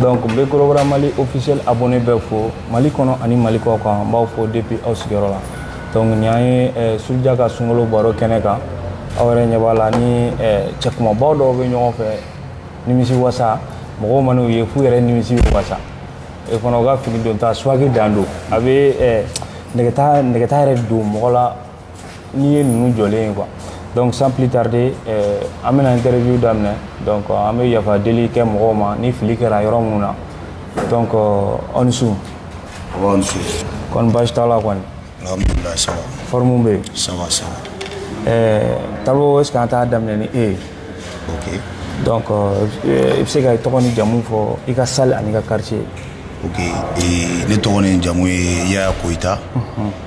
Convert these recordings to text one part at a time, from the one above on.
donc n bɛ gros bras mali officiel abonné bɛɛ fo mali kɔnɔ ani mali kɔ kan n b'aw fo depuis aw sigiyɔrɔ la donc nin an ye eh, suruja ka sunkalo baro kɛnɛ kan aw yɛrɛ ɲɛ b'a la ni eh, cɛkumabaw dɔw bɛ ɲɔgɔn fɛ nimisi wasa mɔgɔw man'u ye f'u yɛrɛ nimisi bɛ wasa e fana u ka fini don ta swag dan don a bɛ eh, nɛgɛta nɛgɛta yɛrɛ don mɔgɔ la n'i ye ninnu jɔlen ye quoi donc sans plus tarder euh, an bɛna interview daminɛ donc euh, an bɛ yafa deli kɛ mɔgɔw ma ni fili kɛra yɔrɔ minnu na donc euh, aw ni su aw ni su kɔni baasi t'a la kɔni alhamdulilayi ça va forme bɛ yen ça va ça va ɛɛ taribo est ce que an t'a daminɛ ni e ye ok donc i bɛ se ka tɔgɔ ni jamu fɔ i ka salle ani i ka quartier ok ne tɔgɔ ni jamu ye yaya koyita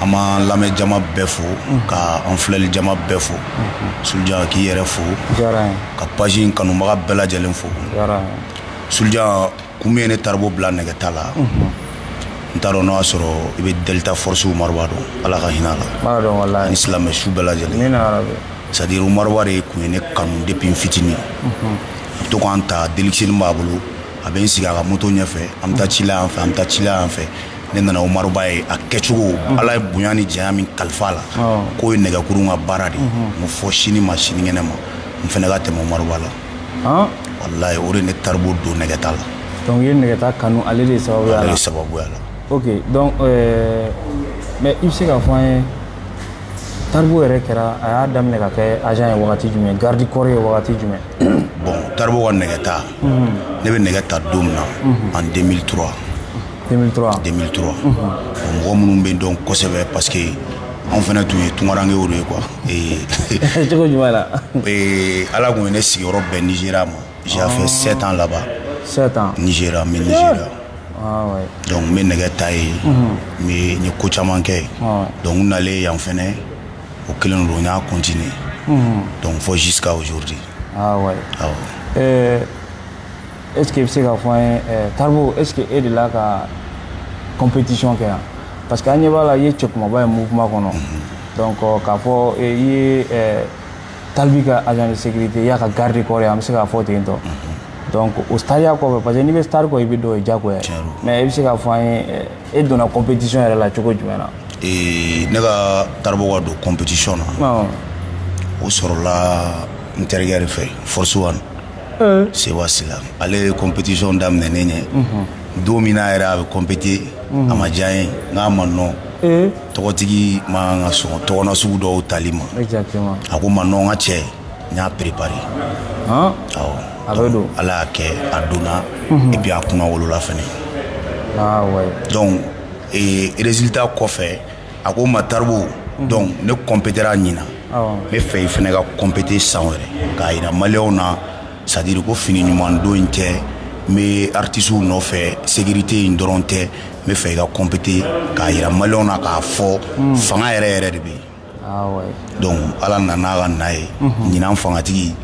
an b'an lamɛn jama bɛɛ fo ka an filɛli jama bɛɛ fo suja k'i yɛrɛ fo ka page in kanubaga bɛɛ lajɛlen fo suja kun min ye ne taribo bila nɛgɛta la n t'a dɔn n'a y'a sɔrɔ i bɛ delta force omaruba dɔn ala ka hinɛ a la ni silamɛ su bɛɛ lajɛlen c'est-à-dire omaruba de tun ye ne kanu depuis n fitinin a bɛ to ka n ta deluxe b'a bolo a bɛ n sigi a ka moto ɲɛfɛ an bɛ taa sira fɛ an bɛ taa sira fɛ ne nana omaruba ye a kɛcogo mhm. ala ye bonya ni janya min kalifa a la k'o ye nɛgɛkuru ka baara de mhm. n ko fo sini ma sinikɛnɛ ma n fana ka tɛmɛ omaruba la ah. walayi o de ne taribo don nɛgɛta la donc i ye nɛgɛta kanu ale de sababuya la ale de sababuya la ok donc euh, mais i bɛ se k'a fɔ an ye taribo yɛrɛ kɛra a y'a daminɛ ka kɛ agent ye wagati jumɛn garde corps ye wagati jumɛn bon taribo ka nɛgɛta mhm. ne bɛ nɛgɛ ta daminɛ en 2003 2003 2003 mɔgɔ minnu bɛ n dɔn kosɛbɛ parce que anw fana tun ye tungarankew de ye quoi ee cogo jumɛn la ee ala tun ye ne sigiyɔrɔ bɛn nizeriya moi j'ai fait ah. sept ans là-bas sept ans nizeriya n bɛ nizeriya ah, donc n bɛ nɛgɛ ta yen mais n ye ko caman kɛ yen ah, donc n nalen yan fɛnɛ o kelen don n y'a continuer donc fo jusqu'à aujourd'hui awɔ est ce que i bɛ se k'a fɔ an ye taribo est ce que e delila ka competition kɛ yan parce que an ɲɛ b'a la i ye cɛ kumaba ye mouvement kɔnɔ donc k'a fɔ i ye tal b ka agent de sécurité i y'a ka garde du corps ye an bɛ se k'a fɔ ten tɔ donc o stariya kɔfɛ parce que n'i bɛ star kɔ i bɛ dɔ ye diyagoya ye mais i bɛ se k'a fɔ an ye e donna competition yɛrɛ la cogo jumɛn na ne ka taribo ka don competition na o sɔrɔla n terikɛ de fɛ force one seyiba sila ale ye compétition daminɛnen ye don min na yɛrɛ a bɛ compété a ma diya n ye n k'a ma non tɔgɔtigi man kan ka sɔn tɔgɔna sugu dɔw tali ma a ko n ma non n ka cɛ n y'a préparé awɔ ala y'a kɛ a donna et puis a kunnawolola fɛnɛ donc résultat kɔfɛ a ko n ma taribo donc ne compétéra ɲinan n b'a fɛ i fana ka compété san wɛrɛ k'a jira malienw na c'est-à-dire ko fini ɲuman don in tɛ n bɛ artistew nɔfɛ sécurité in dɔrɔn tɛ n b'a fɛ i ka compété k'a jira malienw na k'a fɔ fanga yɛrɛ yɛrɛ de bɛ yen donc ala nana n'a ka na ye ɲinan fangatigi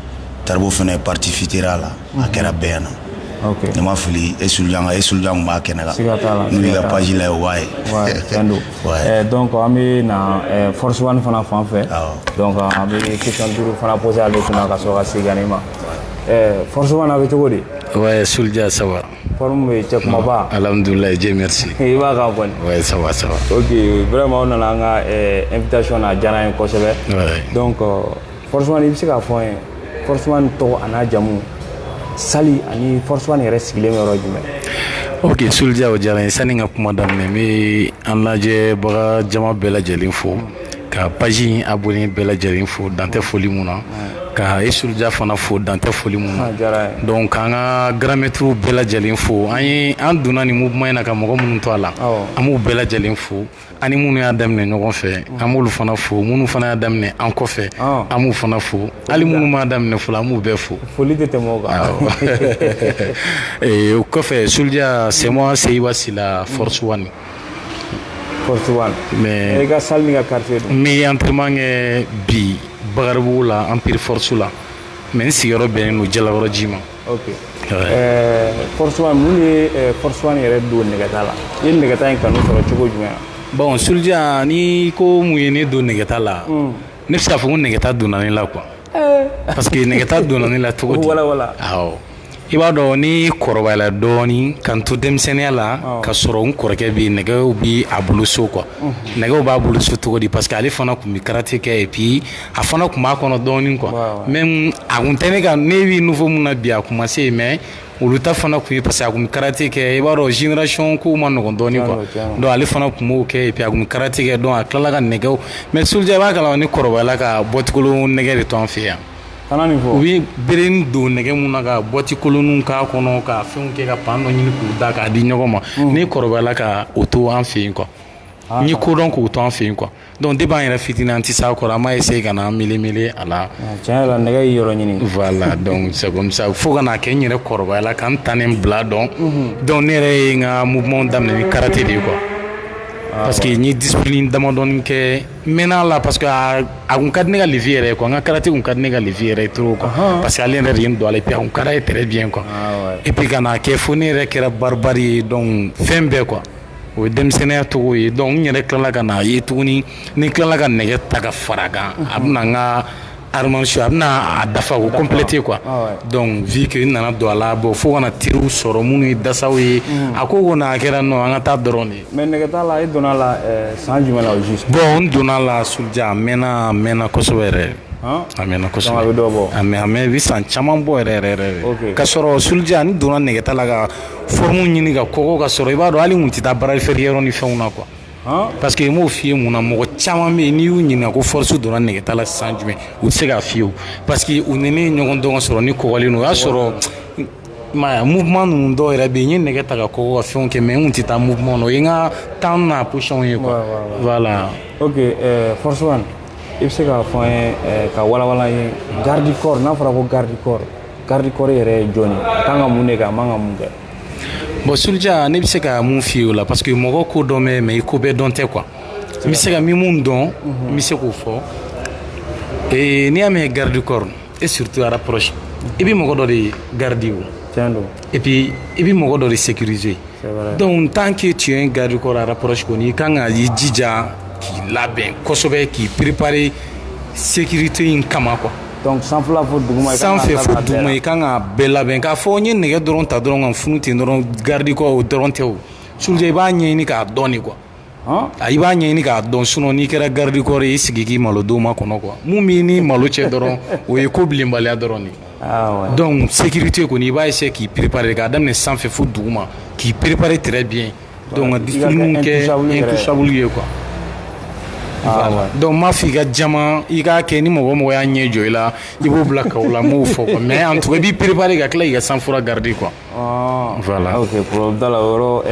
taribo fana participéra a la A kɛra bɛɛ yan na ne ma fili e sujan e suja b'a kɛnɛ la n ka pazsi la o waati ye dɔn an bɛ na fɔsiban fana fan fɛ an bɛ ki duuru fana bɔsi ale fana ka sɔrɔ ka se ne ma fɔsiban bɛ cogo de sujan saba ye cɛ kumaba aladula ye jɛme i b'a ka bɔ saba saba o wɛrɛma nana an ka n bɛ taa son diyara ye kosɛbɛ dɔn kɔ Force one i bɛ se k'a fɔ an ye force one tɔgɔ ani a jamu salle ani force one yɛrɛ sigilen yɔrɔ jumɛn ok sulja o diyara n ye sanni n ka kuma daminɛ n bɛ an lajɛbaga jama bɛɛ lajɛlen fo ka page in abonné bɛɛ lajɛlen fo dan tɛ foli min na ka e sulja fana fo dan tɛ foli min na donc k'an ka grand maîtrew bɛɛ lajɛlen fo an ye an donna ni mouvement in na ka mɔgɔ minnu to a la an b'u bɛɛ lajɛlen fo ani minnu y'a daminɛ ɲɔgɔn fɛ an b'olu fana fo minnu fana y'a daminɛ an kɔfɛ an b'u fana fo hali minnu m'a daminɛ fɔlɔ an b'u bɛɛ fo foli tɛ tɛmɛ o kɔfɛ sulja c'est moi seyiba sila force one force one mais i ka salle n'i ka quartier donc n bɛ entraînement kɛ bi bakaribugu la empire force la mais n sigiyɔrɔ bɛnnen don jalakɔrɔji ma ok force one mun ye force one yɛrɛ don nɛgɛta la i ye nɛgɛta in kanu sɔrɔ cogo jumɛn bon sulja n'i ko mun ye ne don nɛgɛta la hmm. ne bɛ se k'a fɔ ko nɛgɛta donna ne la quoi eh. parce que nɛgɛta donna ne la cogo di i b'a dɔn ne kɔrɔbayala dɔɔnin ka n to denmisɛnninya la ka sɔrɔ n kɔrɔkɛ bɛ nɛgɛw bɛ a bolo so quoi hmm. nɛgɛw b'a bolo so cogo di parce que ale fana tun bɛ karate kɛ et puis a fana tun b'a kɔnɔ dɔɔnin quoi mais a kun tɛ ne ka ne bɛ niveau min na bi a kun ma se mais olu ta fana tun ye parce que a kun bɛ karate kɛ i b'a dɔn génération ko man nɔgɔn dɔɔnin quoi donc ale fana tun b'o kɛ a kun bɛ karate kɛ donc a tilala ka nɛgɛ mais sulja i b'a kalama ne kɔrɔbayala ka bɔtikolon nɛgɛ de to an fɛ yan u bɛ bere don nɛgɛ min na ka bɔti kolon k'a kɔnɔ ka fɛn kɛ ka pan dɔ ɲini k'u da k'a di ɲɔgɔn ma ne kɔrɔbayala ka o to an fɛ yen quoi n ye ko dɔn k'o to an fɛ yen quoi Dɔnku de b'a yɛrɛ fittiri an tɛ sa a kɔrɔ a ma ye se ka na an mili mili a la nɛgɛ yɔrɔ ɲini fo kana kɛ n yɛrɛ kɔrɔbaya la ka tan ni bila dɔn dɔnku ne yɛrɛ ye ka mu daminɛ ni karata de ye kuwa parce que ye di damadɔ kɛ mɛn la parce que a kun ka ne ka lisi yɛrɛ kuwa an ka karataw ka ne ka lisi yɛrɛ t kan parce que ale yɛrɛ de don ale pe an kɛra ye tɛ bi kuwa i bɛ ka kɛ fo ne yɛrɛ kɛra ye dɔn fɛn bɛɛ kuwa o ye denmisɛnninya cogo ye donc n yɛrɛ tilala ka n'a ye tuguni ni n tilala ka nɛgɛ ta ka fara kan a bɛna n ka formation a bɛna a dafa o compléter quoi ah donc vu que n nana don a la bon fo ka na teriw sɔrɔ minnu ye dasaw ye hmm. a ko ko n'a kɛra non an ka taa dɔrɔn de mais nɛgɛta la i donna la euh, san jumɛn la au juste bon n donna la Sulja a mɛnna a mɛnna kosɛbɛ yɛrɛ a mɛnna kosɛbɛ a bɛ dɔ bɔ a bɛ a bɛ san caman bɔ yɛrɛ yɛrɛ yɛrɛ ka sɔrɔ Sulja n donna nɛgɛta la ka forme ɲini ka kɔgɔ ka sɔrɔ i b'a dɔn hali n tun tɛ taa bara feereyɔrɔ ni fɛnw na quoi parce que n m'o f'i ye mun na mɔgɔ caman bɛ yen n'i y'u ɲininka ko Force donna nɛgɛta la san jumɛn u tɛ se k'a f'i ye o parce que u ni ne ye ɲɔgɔn dɔn ka sɔrɔ n kɔgɔlen don o y'a sɔrɔ mouvement ninnu dɔw yɛrɛ bɛ yen n ye nɛgɛ ta ka kɔgɔ ka fɛn kɛ mais n tɛ taa mouvement na o ye n ka tan na position ye voilà ok Force i bɛ se k'a fɔ an ye ka walawala an ye garde corps n'a fɔra ko garde corps garde corps yɛrɛ ye jɔn ye a kan ka mun de kɛ a man ka mun kɛ bon Sulja ne bɛ se ka mun f'i o la parce que mɔgɔ ko dɔn bɛ mais i ko bɛɛ dɔn tɛ quoi n bɛ se ka min mun dɔn n mhm. bɛ se k'o fɔ ee n'i y'a mɛn garde corps et surtout à rapproche i bɛ mɔgɔ dɔ de garder o tiɲɛ don et puis i bɛ mɔgɔ dɔ de sécuriser donc tant que tu es un garde corps à rapproche kɔni i kan ka i jija k'i labɛn kosɛbɛ k'i préparer sécurité in kama quoi donc sanfɛla fo duguma sanfɛ fo duguma i kan ka bɛɛ labɛn k'a fɔ n ye nɛgɛ dɔrɔn ta dɔrɔn ka funu ten dɔrɔn garde corps o dɔrɔn tɛ o Sulja i b'a ɲɛɲini k'a dɔn de quoi a i b'a ɲɛɲini k'a dɔn sinon n'i kɛra garde corps ye i sigi k'i malo don ma kɔnɔ quoi mun b'i ni malo cɛ dɔrɔn o ye ko bilenbaliya dɔrɔn de ah, donc sécurité kɔni i b'a essayer k'i préparer k'a daminɛ sanfɛ fo duguma k'i préparer très bien Donc ka discipline kɛ intouchable ye quoi voilà donc n m'a fɔ i ka jama i k'a kɛ ni mɔgɔ mɔgɔ y'a ɲɛ jɔ i la i b'o bila KO la n m'o fɔ quoi mais en tout cas i b'i préparer ka tila k'i ka sang froid garder quoi voilà ok problème t'a la o yɔrɔ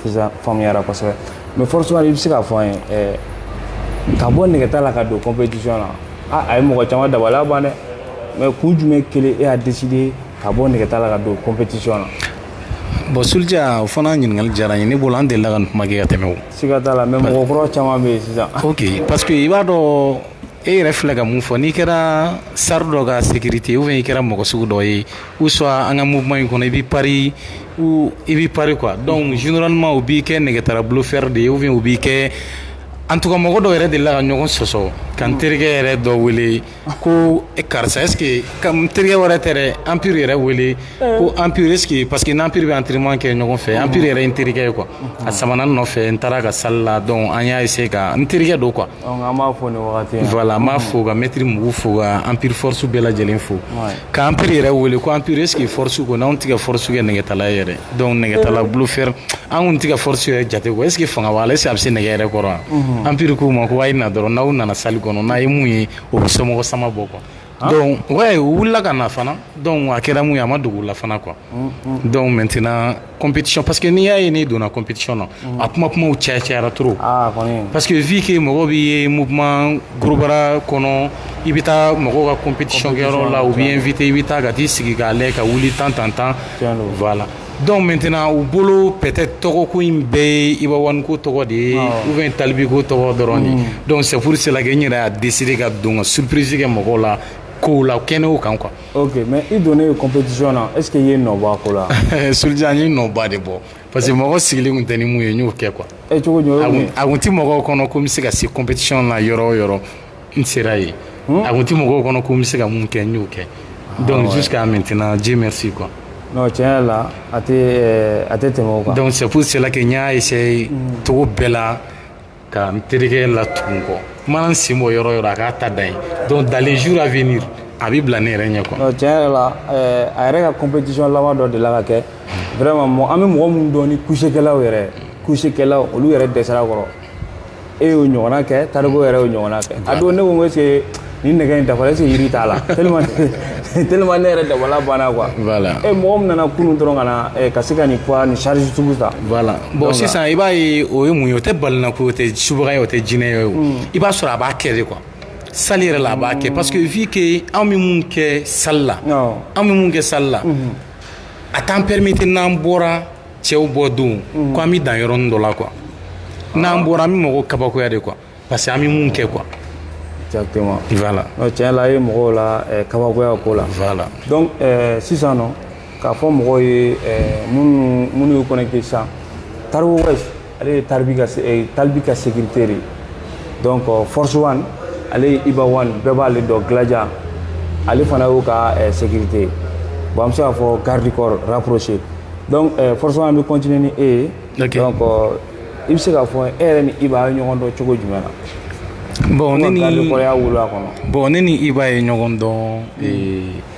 sisan faamuyara kosɛbɛ mais Force One i bɛ se k'a fɔ an ye ka bɔ nɛgɛta la ka don compétition na a a ye mɔgɔ caman dabali ban dɛ mais kun jumɛn kelen e y'a décider ka bɔ nɛgɛta la ka don compétition na bon Sulja o fana ɲininkali diyara n ye ne bolo an delila ka nin kuma kɛ ka tɛmɛ o siga t'a la mais mɔgɔ kura caman bɛ yen sisan ok parce que i b'a dɔn e yɛrɛ filɛ ka mun fɔ n'i kɛra star dɔ ka sécurité ou bien i kɛra mɔgɔ sugu dɔ ye ou soit an ka mouvement in kɔnɔ i b'i pari ou i b'i pari quoi donc généralement u b'i kɛ nɛgɛtala bluffeur de ye ou bien u b'i kɛ en tout cas mɔgɔ dɔw yɛrɛ delila ka ɲɔgɔn sɔsɔ ka n terikɛ yɛrɛ dɔ wele A ko karisa e ka teri wɛrɛ tɛ anpiri yɛrɛ wele ko anpiriseke pa que anpiri bɛ an teriman kɛ ɲɔgɔn fɛ anpiri yɛrɛ n terikɛ ye kuwa a sabanan nɔfɛ n taara ka sa la dɔn an y'a se ka n terikɛ don kuwa b'a fɔ la b'a fɔ ka mɛtiri mugu fo ka anpiriforosi bɛɛ lajɛlen fo k'anpri yɛrɛ wele ko anpiriseke forosi kɔnɔ anw tigɛ forosi kɛ nɛgɛgetala yɛrɛ Donc nɛgɛtala bluffeur an kun tɛ ka Force yɛrɛ jate ko est-ce que fanga b'a la est-ce que a bɛ se nɛgɛ yɛrɛ kɔrɔ wa Empire k'u ma ko a ye na dɔrɔn n'aw nana salle kɔnɔ n'a ye mun ye o bɛ somɔgɔ sama bɔ quoi donc u wulila ka na fana donc a kɛra mun ye a ma dogo u la fana quoi donc maintenant compétition parce que n'i y'a ye ne donna compétition na a kuma kuma ca cayara trop parce que vu que mɔgɔ b'i ye mouvement gros bras kɔnɔ i bɛ taa mɔgɔ ka compétition kɛyɔrɔ la u b'i inviter i bɛ taa ka t'i sigi k'a lajɛ ka wuli tan tan tan voilà donc maintenant u bolo peut-être tɔgɔko in bɛɛ ye Iba One ko tɔgɔ de ye ou bien Tal B ko tɔgɔ dɔrɔn de donc c'est pour cela n yɛrɛ y'a décider ka don ka surprise kɛ mɔgɔw la ko la kɛnɛ kan quoi mais i donnen compétition na est-ce que i ye nɔ bɔ a ko la Sulja n ye nɔba de bɔ parce que mɔgɔ sigilen kun tɛ ni mun ye n y'o kɛ quoi a kun tɛ mɔgɔw kɔnɔ ko n bɛ se ka se compétition na yɔrɔ o yɔrɔ n sera yen hmm? a kun tɛ mɔgɔw kɔnɔ ko n bɛ se ka mun kɛ n y'o kɛ ah, donc jusqu'à maintenant Dieu merci quoi non tiɲɛ yɛrɛ la a tɛ eh, a tɛ tɛmɛ o kan donc c'est pour cela que n y'a essayer hmm. cogo bɛɛ la ka n terikɛ latugun n kɔ n mana n sen bɔ yɔrɔ o yɔrɔ a k'a ta da yen donc dans les jours à venir a bɛ bila ne yɛrɛ ɲɛ quoi non tiɲɛ yɛrɛ la eh, a yɛrɛ ka compétition laban dɔ delila ka kɛ vraiment an bɛ mɔgɔ minnu dɔn ni couchékɛlaw yɛrɛ couchékɛlaw olu yɛrɛ dɛsɛra kɔrɔ e y'o ɲɔgɔnna kɛ tariku yɛrɛ y'o ɲɔgɔnna kɛ a don ne ko est ce que nin nɛgɛ in dafara est ce que yiri t'a la tellement tellement ne yɛrɛ dabali banna quoi voilà e mɔgɔ min nana kunun dɔrɔn ka na ka se ka nin poids ni charge sugu ta voilà bon sisan i b'a ye o ye mun ye o tɛ balina ko o tɛ subaga ye o tɛ jinɛ ye o i b'a sɔrɔ a b'a kɛ de quoi salle yɛrɛ la a b'a kɛ parce que vu que anw bɛ mun kɛ salle la anw bɛ mun kɛ salle la a t'an permettre n'an bɔra cɛw bɔ don mm. ko an bɛ dan yɔrɔnin dɔ la quoi n'an bɔra an bɛ mɔgɔw kabakoya de quoi parce que an bɛ mun kɛ quoi. exactement voilà tiɲɛ la a ye mɔgɔw la eh, kabakoya ko la. voilà donc eh, sisan nɔ k'a fɔ mɔgɔw ye eh, minnu minnu y'u connecté sisan tariku wɛsi. ale ye talibi ka eh, talibi ka sécurité de donc euh, force one ale ye iba one bɛɛ b'ale dɔn gladia ale fana y'o ka eh, sécurité bon an bɛ se k'a fɔ garde corps rapproché donc eh, force one bɛ continuer ni e ye okay. donc euh, i bɛ se k'a fɔ e yɛrɛ ni iba a ye ɲɔgɔn dɔn cogo jumɛn na garde corps ya wolo a kɔnɔ bon ne ni iba ye ɲɔgɔn dɔn mm.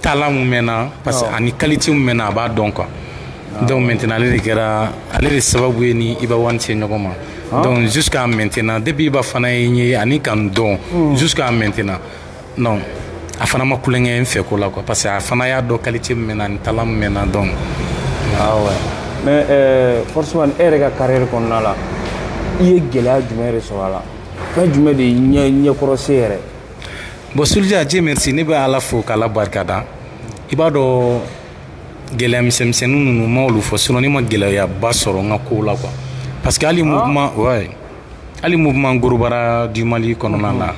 talent mun bɛ n na parce que ani qualité mun bɛ n na a b'a dɔn quoi donc maintenant ale de kɛra ale de sababu ye n ni Iba One se ɲɔgɔn ma donc jusqu'à maintenant depuis Iba fana ye n ye ani ka n dɔn jusqu'à maintenant non a fana ma tulonkɛ n fɛ ko la quoi parce que a fana y'a dɔn qualité mun bɛ n na ani talent mun bɛ n na donc Ah ouais. Mais euh, Force One, e yɛrɛ ka carrière kɔnɔna la, i ye gɛlɛya jumɛn de sɔrɔ a la? Fɛn jumɛn de y'i ɲɛkɔrɔse yɛrɛ? bon Sulja Dieu merci ne bɛ ala fo k'ala barika da i b'a dɔn gɛlɛya misɛnmisɛnnin ninnu ma olu fɔ sinon ne ma gɛlɛyaba sɔrɔ n ka kow la quoi parce que hali mouvement ouais hali mouvement gros bras du mali kɔnɔna la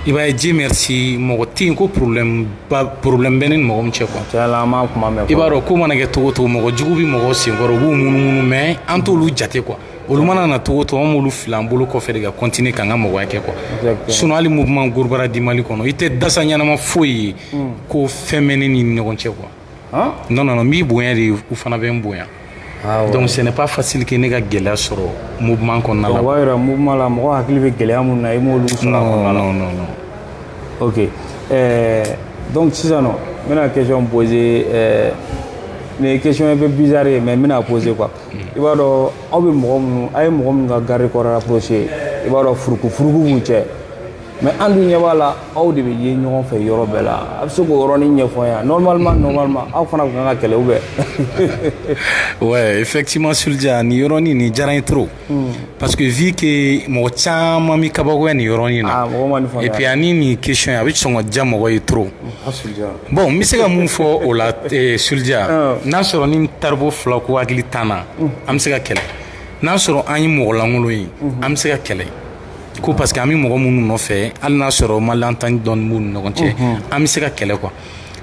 i b'a ye Dieu merci mɔgɔ tɛ yen ko problème ba problème bɛ ne ni mɔgɔ min cɛ quoi cɛla an m'a kuma mɛn i b'a dɔn ko mana kɛ cogo o cogo mɔgɔ jugu bɛ mɔgɔ senkɔrɔ u b'u munumunu mais an t'olu jate quoi olu mana na cogo o cogo an b'olu fili an bolo kɔfɛ de ka continuer k'an ka mɔgɔya kɛ quoi sinon hali mouvement gros bras du mali kɔnɔ i tɛ dasa ɲɛnama foyi ye hmm. ko fɛn bɛ ne ni ɲɔgɔn cɛ quoi non non non n b'u bonya de u fana bɛ n bonya ah, donc ce n'est pas facile que ne ka gɛlɛya sɔrɔ mouvement kɔnɔna la o b'a yira mouvement la mɔgɔ hakili bɛ gɛlɛya minnu na i m'olu sɔrɔ a kɔnɔna la non non non ok euh, donc sisan nɔ n bɛna question poser euh, nin ye question un peu bizarre ye mais n bɛna poser quoi i b'a dɔn aw bɛ mɔgɔ minnu a ye mɔgɔ minnu ka garde corps rapproché i b'a dɔn furuku furuku b'u cɛ mais an dun ɲɛ b'a la aw de bɛ ye ɲɔgɔn fɛ yɔrɔ bɛɛ la a bɛ se k'o yɔrɔnin ɲɛfɔ an ye normalement normalement aw fana tun kan ka kɛlɛ ou bien ouais effectivement Sulja nin yɔrɔnin nin diyara n ye trop hmm. parce que vu que mɔgɔ caman bɛ kabakoya nin yɔrɔnin na ah, et puis ani nin question a bɛ sɔn ka diya mɔgɔ ye trop ah, Bon n bɛ se ka mun fɔ o la Sulja n'a sɔrɔ n ni taribo fila ko hakili t'an na an bɛ se ka kɛlɛ n'a sɔrɔ an ye mɔgɔ lankolon ye an bɛ se ka kɛlɛ ko parce que an bɛ mɔgɔ minnu nɔfɛ hali n'a sɔrɔ malentendu dɔɔnin b'u ni ɲɔgɔn cɛ an bɛ se ka kɛlɛ quoi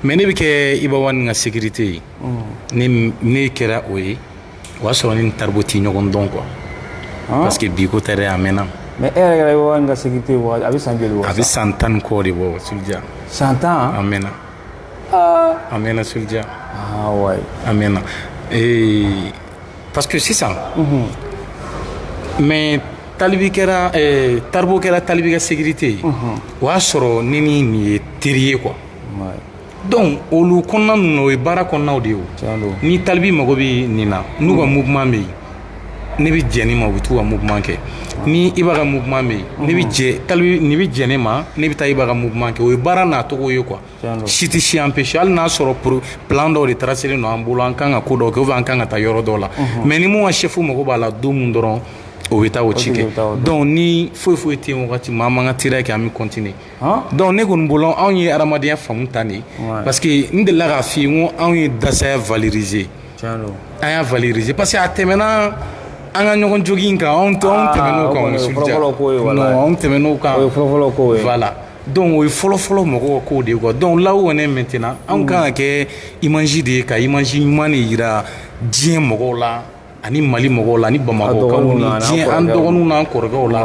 mais ne bɛ kɛ iba one ka sécurité ye ne kɛra o ye o y'a sɔrɔ ne ni taribo tɛ ɲɔgɔn dɔn quoi parce que bi ko tɛ dɛ a mɛnna mais e yɛrɛ kɛra one ka sécurité a bɛ san joli bɔ a bɛ san tan ni kɔ de bɔ Sulja san tan a mɛnna a mɛnna Sulja ah ouais a mɛnna ee parce que sisan mais talibi kɛra eh, taribo kɛra talibi ka sécurité ye o y'a sɔrɔ ne ni nin ye teri ye quoi ouais donc olu kɔnɔna ninnu na o ye baara kɔnɔnaw de ye o ni talibi mago bɛ nin na n'u ka mouvement bɛ yen ne bɛ jɛn ni ma u bɛ t'u ka mouvement kɛ ni Iba ka mouvement bɛ yen ne bɛ jɛ talibi nin bɛ jɛn ne ma ne bɛ taa Iba ka mouvement kɛ o ye baara nacogo ye quoi si tɛ si empêcher hali n'a sɔrɔ pro plan dɔw de tracélen don an bolo an kan ka ko dɔw kɛ ou bien an kan ka taa yɔrɔ dɔw la mais ni min ka chef mago b'a la don min dɔrɔn o bɛ taa o ci kɛ donc ni foyi foyi tɛ yen wagati min an b'an ka teriya kɛ an bɛ continuer donc ne kɔni bolo anw ye adamadenya faamu tan de parce que n delila k'a f'i ye ko anw ye dasaya valoriser an y'a valoriser parce que a tɛmɛna an ka ɲɔgɔn jogin in kan anw tɛ anw tɛmɛn'o kan anw tɛmɛn'o kan voilà donc o ye fɔlɔfɔlɔ mɔgɔw ka kow de quoi donc là où on est maintenant anw kan ka kɛ image de ye ka image ɲuman de yira diɲɛ mɔgɔw la ani mali mɔgɔw la ni bamakɔkaw ni diɲɛ an dɔgɔninw n'an kɔrɔkɛw la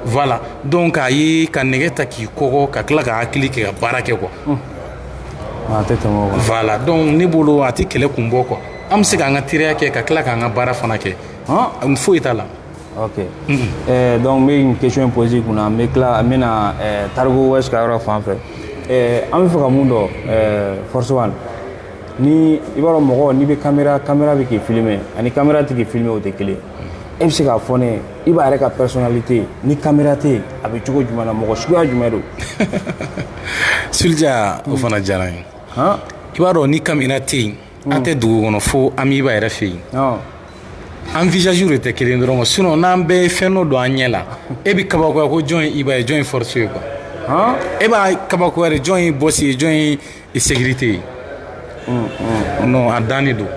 voilà donc a ye ka nɛgɛ ta k'i kɔgɔ ka tila ka hakili kɛ ka baara kɛ quoi a tɛ tɛmɛ o kan voilà donc ne bolo a tɛ kɛlɛ kun bɔ quoi an bɛ se k'an ka teriya kɛ ka tila k'an ka baara fana kɛ foyi t'a la ok eh, donc n bɛ nin question poser kun na n bɛ tila n bɛ na eh, Taribo West ka yɔrɔ fan fɛ eh, an bɛ fɛ ka mun dɔn eh, Force One ni i b'a dɔn mɔgɔ n'i bɛ kamera kamera bɛ k'i filime ani kamera tɛ k'i filime o tɛ kelen e bɛ se k'a fɔ n ye Iba yɛrɛ ka personnalité ni kamera tɛ yen a bɛ cogo jumɛn na mɔgɔ suguya jumɛn don Sulja o fana diyara n ye han i b'a dɔn ni kamera tɛ yen an tɛ dugu kɔnɔ fo an b'Iba yɛrɛ fɛ yen ɔn an visage de tɛ kelen dɔrɔn sinon n'an bɛɛ ye fɛn dɔ don an ɲɛ la e bɛ kabakoya ko jɔn ye Iba ye jɔn ye Force ye quoi han e bɛ kabakoya de jɔn ye boss ye jɔn ye I sécurité ye non a dan de don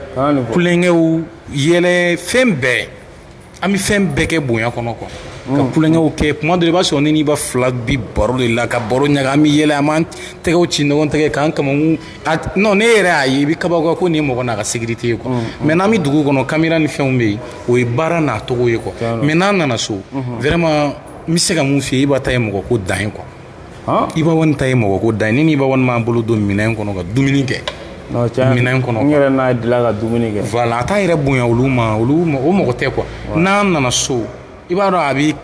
tulonkɛw yɛlɛ fɛn bɛɛ an bɛ fɛn bɛɛ kɛ bonya kɔnɔ quoi ka tulonkɛw kɛ tuma dɔ la i b'a sɔrɔ ne n'Iba fila bi baro de la ka baro ɲaga an bɛ yɛlɛ an b'an tɛgɛ ci ɲɔgɔn tɛgɛ k'an kaman n'e yɛrɛ y'a ye i bɛ kabakoya ko nin ye mɔgɔ n'a ka sécurité ye quoi mais n'an bɛ dugu kɔnɔ kamera ni fɛnw bɛ yen o ye baara n'a tɔgɔ ye quoi mais n'an nana so vraiment n bɛ se ka mun f'i ye Iba ta ye mɔgɔko dan ye quoi Iba One ta ye mɔgɔko dan ye ne n'Iba One b'an bolo don minɛn kɔnɔ ka dumuni kɛ minɛn kɔnɔ n yɛrɛ n'a fila ka dumuni kɛ voilà a t'a yɛrɛ bonya olu ma olu o mɔgɔ tɛ quoi n'an nana so i b'a dɔn a bɛ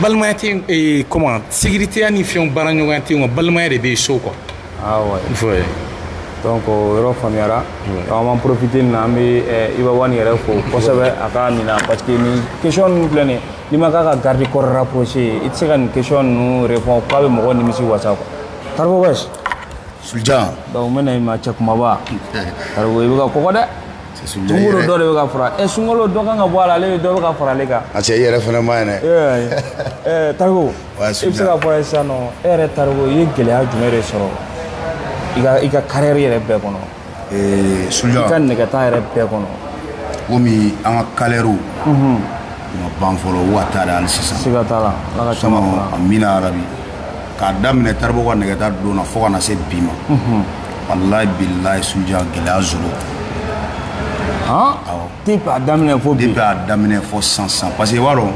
balimaya tɛ comment sécuritéya ni fɛnw baaraɲɔgɔnya tɛ yen wa balimaya de bɛ yen so quoi ah ouais donc o yɔrɔ faamuyara an b'an profiter nin na an bɛ eh, Iba One yɛrɛ fo kosɛbɛ a ka nin na parce que nin question ninnu filɛ nin ye n'i ma k'a ka garde corps rapproché ye i tɛ se ka nin question ninnu répondre k'a bɛ mɔgɔ nimisi wasa quoi Taribo West Sulja donc n bɛ na i ma cɛ kunbaba Taribo i bɛ ka kɔgɔ dɛ sunkalo dɔ de bɛ ka fara ɛ sunkalo dɔ kan ka bɔ a la ale bɛ dɔ bɛ ka fara ale kan a cɛ i yɛrɛ fana man ɲi dɛ Taribo e se k'a fɔ an ye sisan e yɛrɛ taribo i ye gɛlɛya jumɛn de sɔrɔ i ka carrière bɛɛ kɔnɔ su ka nɛgɛta yɛrɛ bɛɛ kɔnɔ komi an ka carrière ma ban fɔlɔ waa taara ali sisan siga t'a la ala ka caman fara amina yarabi k'a daminɛ taribo ka nɛgɛta don na fo ka na se bi ma walayi bilayi suliyan gɛlɛya zéro depuis a daminɛ fo bi depuis a daminɛ fo sisan parce que i b'a dɔn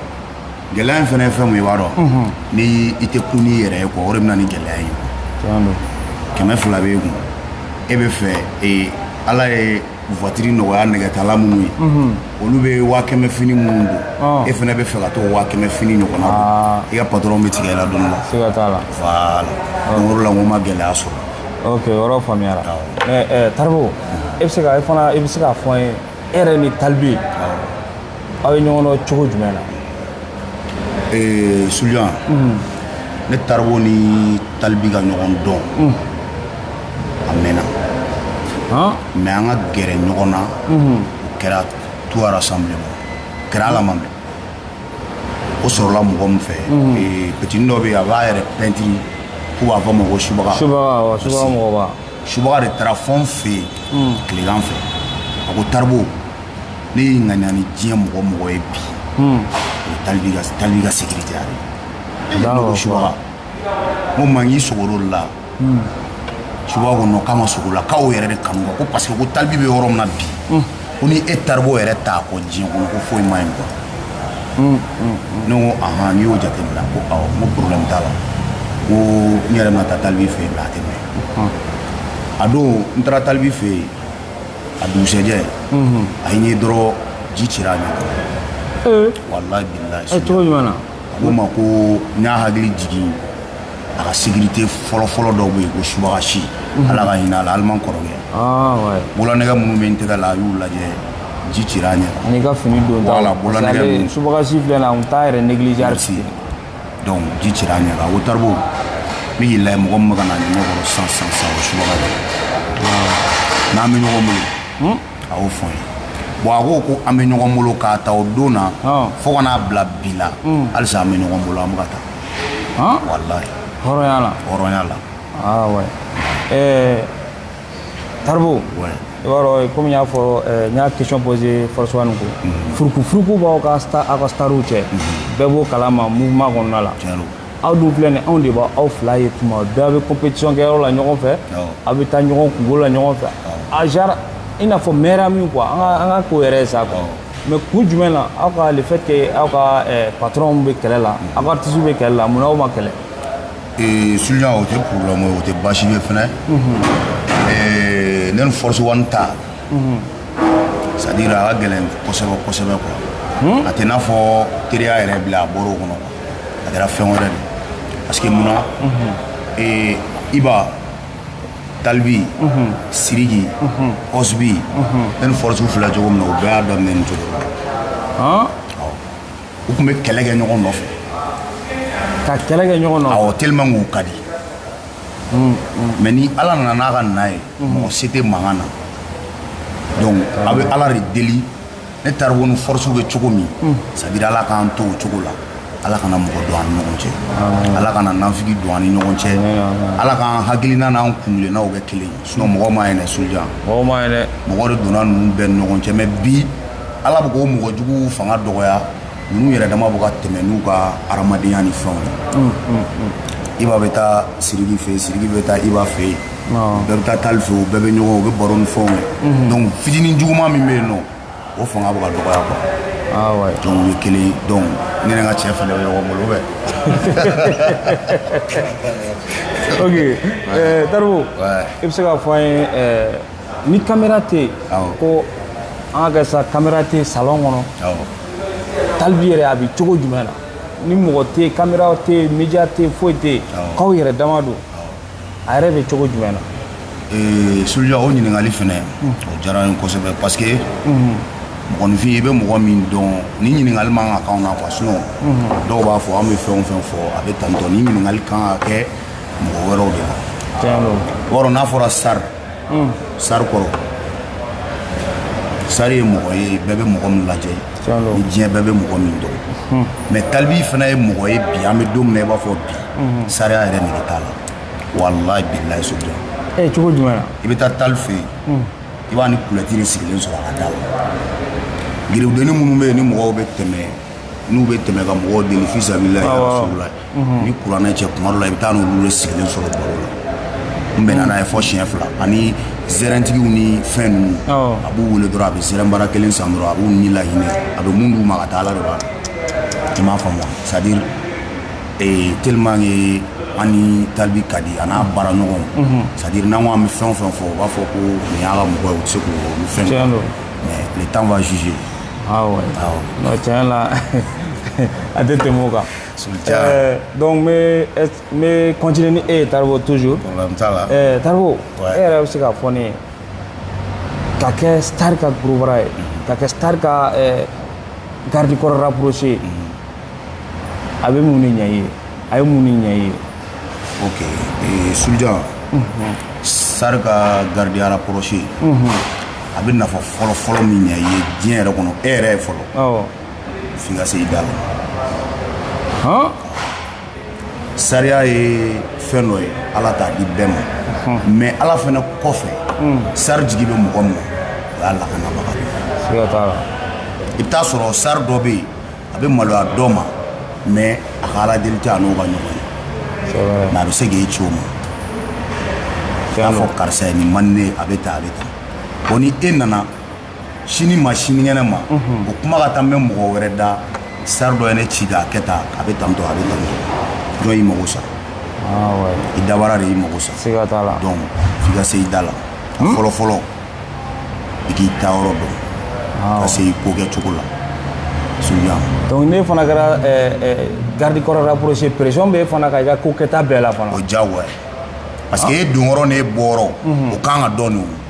gɛlɛya in fana ye fɛn mun ye i b'a dɔn ni i tɛ kun n'i yɛrɛ ye quoi o de bɛ na ni gɛlɛya ye kɛmɛ fila b'e kun e bɛ fɛ ee ala ye voitiri nɔgɔya nɛgɛtala minnu ye olu bɛ waa kɛmɛ fini minnu don e fana bɛ fɛ ka to waa kɛmɛ fini ɲɔgɔnna don i ka patɔrɔn bɛ tigɛ i la don dɔ la siga t'a la voilà donc o de la n ko n ma gɛlɛya sɔrɔ ok o yɔrɔ faamuyara Awɔ. mais eh, taribo e bɛ se ka e fana e bɛ se k'a fɔ an ye e yɛrɛ ni talibi aw ye ɲɔgɔn dɔn cogo jumɛn na ee suliyan ne taribo ni talibi ka ɲɔgɔn dɔn a mɛnna han mais an ka gɛrɛ ɲɔgɔn na o kɛra tout rassemblement o kɛra ala ma mais o sɔrɔla mɔgɔ min fɛ ee, petini dɔ bɛ yen a b'a yɛrɛ pɛntiri k'u b'a fɔ a ma ko subaga subaga wa subaga mɔgɔba subaga de taara fo n fɛ yen hmm. tilegan fɛ a ko taribo ne y'i ŋaniya ni diɲɛ mɔgɔ mɔgɔ ye bi hmm. o ye talibi ka talibi ka sécuritéya ye ne ko subaga n ko man k'i sogoro la hmm. subaga ko non k'a ma sogo la k'aw yɛrɛ de kanu ko parce que ko talibi bɛ yɔrɔ min na bi ko ni e taribo yɛrɛ t'a kɔ diɲɛ kɔnɔ ko foyi ma ɲɛ quoi ne ko ahan n'i y'o jateminɛ ko awɔ n ko problème t'a la ko n yɛrɛ bɛna taa talibi fɛ yen a tɛ mɛn a don n taara talibi fɛ yen a dugusɛjɛ a ye n ye dɔrɔn ji cira a ɲɛ kɔrɔ walayi bilayi cogo jumɛn na a ko n ma ko n y'a hakili jigin a ka sécurité fɔlɔfɔlɔ dɔ bɛ yen ko subaga si mhm. ala ka hinɛ a la aliman kɔrɔkɛ ah, bolonɛgɛ minnu bɛ n tɛgɛ la a y'u lajɛ ji cira a ɲɛ ani ka fini don ta la bolonɛgɛ ninnu subaga si filɛ na n t'a yɛrɛ négliger merci donc ji cira a ɲɛ kan a ko taribo ne y'i lajɛ mɔgɔ min bɛ ka na n ɲɛ kɔrɔ sisan sisan sisan o subaga de ah. n'an bɛ ɲɔgɔn bolo hmm? a y'o fɔ n ye bon a ko ko an bɛ ɲɔgɔn bolo k'a ta o don na fo ka n'a bila bi la halisa an bɛ ɲɔgɔn bolo an bɛ ka taa walayi hɔrɔnya la hɔrɔnya la ah ouais eh Taribo ouais i b'a dɔn komi n y'a fɔ n y'a question posé Force One na ko furuku furuku b'aw ka aw ka stariw cɛ bɛɛ b'o kalama mouvement kɔnɔna la aw dun filɛ nin anw de b'aw fila ye tuma bɛɛ aw bɛ compétition kɛ yɔrɔ la ɲɔgɔn fɛ aw bɛ taa ɲɔgɔn kunko la ɲɔgɔn fɛ a genre i n'a fɔ mɛra min quoi an ka an ka ko yɛrɛ ye sa quoi mais kun jumɛn na aw ka le fait que aw ka eh, patron bɛ kɛlɛ la aw ka artiste bɛ kɛlɛ la mun na aw ma kɛlɛ. Eh, suluja o tɛ problème ye o tɛ baasi ye fɛnɛ ne ni force one ta c'est à dire a ka gɛlɛn kosɛbɛ kosɛbɛ quoi a tɛ n'a fɔ teriya yɛrɛ bilen a bɔra o kɔnɔ quoi a kɛra fɛn wɛrɛ de parce que munna iba talibi siriki ɔsibi ne ni force filɛ cogo min na u bɛɛ y'a daminɛ nin cogo la u tun bɛ kɛlɛ kɛ ɲɔgɔn nɔfɛ ka kɛlɛ kɛ ɲɔgɔn nɔfɛ awɔ tellement k'u ka di mais ni ala nana n'a ka na ye mɔgɔ se tɛ mankan na donc an bɛ ala de deli ne taribo ni force bɛ cogo min c'est à dire ala k'an to o cogo la ala kana mɔgɔ don an ni ɲɔgɔn cɛ ala kana nafigi don an ni ɲɔgɔn cɛ ala k'an hakilina n'an kuntilennaw kɛ kelen ye sinon mɔgɔ man ɲi dɛ suluja mɔgɔ man ɲi dɛ mɔgɔ de donna ninnu bɛɛ ni ɲɔgɔn cɛ mais bi ala bɛ k'o mɔgɔ juguw fanga dɔgɔya ninnu yɛrɛ dama bɛ ka tɛmɛ n'u ka hadamadenya ni fɛnw ye iba bɛ taa siriki fɛ yen siriki bɛ taa iba fɛ yen bɛɛ bɛ taa tali fɛ u bɛɛ bɛ ɲɔgɔn u bɛ baro ni fɛnw kɛ donc fitinɛ juguman min bɛ yen nɔ o fanga bɛ ka dɔgɔya quoi ah ouais donc o ye kelen ye donc ne ni n ka cɛ fana bɛ ɲɔgɔn bolo bɛ ok eh, taribo Ouais. i bɛ se k'a fɔ an ye eh, ni kamera tɛ yen Awɔ. ko an k'a kɛ sa kamera tɛ yen salon kɔnɔ awɔ talibi yɛrɛ a bɛ cogo jumɛn na ni mɔgɔ tɛ yen kamera tɛ yen media tɛ yen foyi tɛ yen Awɔ. k'aw yɛrɛ dama don a yɛrɛ bɛ cogo jumɛn na ee, suluja o ɲininkali fɛnɛ hmm. o diyara n ye kosɛbɛ parce que hmm. mɔgɔninfin i bɛ mɔgɔ min dɔn nin ɲininkali man kan k'anw na quoi sinon hmm. dɔw b'a fɔ an bɛ fɛn o fɛn fɔ a bɛ tantɔ nin ɲininkali kan ka kɛ mɔgɔ wɛrɛw de la or n'a fɔra star hmm. star kɔrɔ star ye mɔgɔ ye bɛɛ bɛ mɔgɔ min lajɛ ni diɲɛ bɛɛ bɛ mɔgɔ min dɔn hmm. mais talibi fana ye mɔgɔ ye bi an bɛ don min na i b'a fɔ bi hmm. starya yɛrɛ nege t'a la walayi bilayi suluja eh, cogo jumɛn na i bɛ taa tali fɛ yen i b'a ni kulɛti de sigilen sɔrɔ a ka da la garibudennin minnu bɛ yen ni mɔgɔw bɛ tɛmɛ n'u bɛ tɛmɛ ka mɔgɔw deli fisabilayi ni kuranɛ cɛ tuma dɔ la i bɛ t'a n'olu de sigilen sɔrɔ baro la n bɛnna n'a ye fɔ siɲɛ fila ani zɛrɛntigiw ni fɛn ninnu a b'u wele dɔrɔn a bɛ zɛrɛn bara kelen san dɔrɔn a b'u ni lahinɛ a bɛ mun d'u ma ka taa ala de b'a dɔn i m'a faamu wa c'est à dire tellement que an ni talibi ka di a n'a baara ɲɔgɔnw c'est à dire n'an ko an bɛ fɛn o fɛn fɔ u b'a fɔ ko nin y'a ka mɔgɔ ye u tɛ se k'o ni fɛn Tiɲɛ don. mais le temps va juger awɔ awɔ tiɲɛ la a tɛ tɛmɛ o kan Dɔnku n bɛ kɔnt ni e ye tariku tu tariku e yɛrɛ bɛ se ka fɔ ne ye ka kɛ tari ka gba ye ka kɛ tari ka garidi kɔrɔ pse ye a bɛ mun ni ɲɛ ye a ye mun ni ɲɛ ye o su sari ka garidiyara pse a bɛ nafa fɔlɔfɔlɔ min ɲɛ ye diɲɛ yɛrɛ kɔnɔ e yɛrɛ ye fɔlɔ F'i ka se i da la. Hɔn! Starya ye fɛn dɔ ye Ala t'a di bɛɛ ma. Mais Ala fana kɔfɛ. Star jigi bɛ mɔgɔ min na, o y'a lakanabaga de ye. Siga t'a la. I bɛ taa sɔrɔ star dɔ bɛ yen, a bɛ maloya dɔ ma, mais a ka Ala deli tɛ a n'o ka ɲɔgɔn ye. C'est vrai. Mais a bɛ se k'e ci o ma. I b'a fɔ karisa ye nin man di ne ye, a bɛ tan, a bɛ tan. Bon ni e nana sini ma sinikɛnɛ ma o kuma ka taa mɛn mɔgɔ wɛrɛ da star dɔ ye ne ci k'a kɛ tan a bɛ tantɔ a bɛ tantɔ jɔn y'i mago sa i dabara de y'i mago sa siga t'a la donc f'i ka se i da la a fɔlɔ fɔlɔ i k'i taayɔrɔ dɔn ka se i ko kɛ cogo la Soudian donc n'e fana kɛra garde corps rapproché pression bɛ e fana kan i ka ko kɛta bɛɛ la fana o diyagoya parce que e donyɔrɔ n'e bɔyɔrɔ o kan ka dɔn de o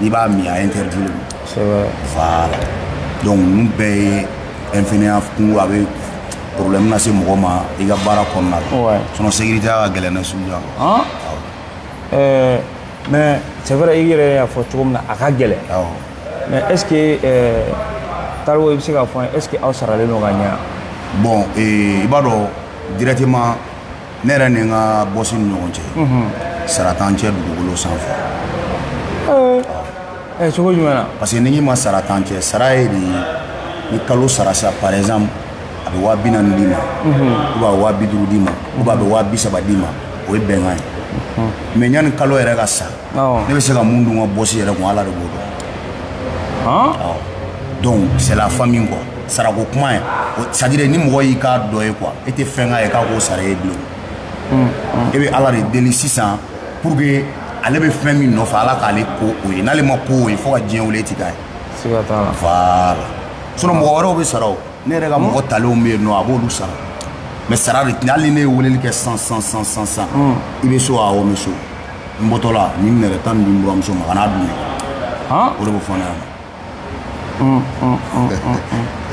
n'i b'a min a interditlen e ma C'est vrai. voilà donc ninnu bɛɛ ye infiniya kungo a bɛ problème lase mɔgɔ ma i ka baara kɔnɔna la Ouais. sinon sécurité ka gɛlɛn na Soudian Hein? Euh, mais c'est vrai, i yɛrɛ y'a fɔ cogo min na a ka gɛlɛn. awɔ Mais est-ce que euh, Taribo i bɛ se k'a fɔ est-ce que aw saralen don ka ɲa bon eh, i b'a dɔn directement ne yɛrɛ ni n ka bɔsi ni ɲɔgɔn cɛ sara t'an cɛ dugukolo sanfɛ ɛ cogo jumɛn na parce que n'i y'a mɛn sara t'an cɛ sara ye di ni kalo sara sa par exemple a bɛ waa bi naani d'i ma ou bien a bɛ waa bi duuru d'i ma ou bien a bɛ waa bi saba d'i ma o ye bɛnkan ye mais yanni kalo yɛrɛ ka sa ne bɛ se ka mun dun n ka bɔsi yɛrɛ kun ala de b'o dɔn donc c'est la famille quoi sarako kuma ye c'est à dire ni mɔgɔ y'i k'a dɔgɔ ye quoi e tɛ fɛn k'a ye k'a k'o sara ye bilen e bɛ ala de deli sisan pour que ale bɛ fɛn min nɔfɛ ala k'ale kɛ o ye n'ale ma kɛ o ye fo ka diɲɛ wili e tɛ k'a ye siga t'a la voilà sinon mɔgɔ wɛrɛw bɛ sara o ne yɛrɛ ka mɔgɔ talenw bɛ yen nɔ a b'olu sara mais sara de tɛ hali ne ye weleli kɛ san san san san san i bɛ so awɔ n bɛ so n bɔtɔla ni nɛrɛ taa nin di n buranmuso ma ka na dun o de bɛ fɔ ne ɲɛna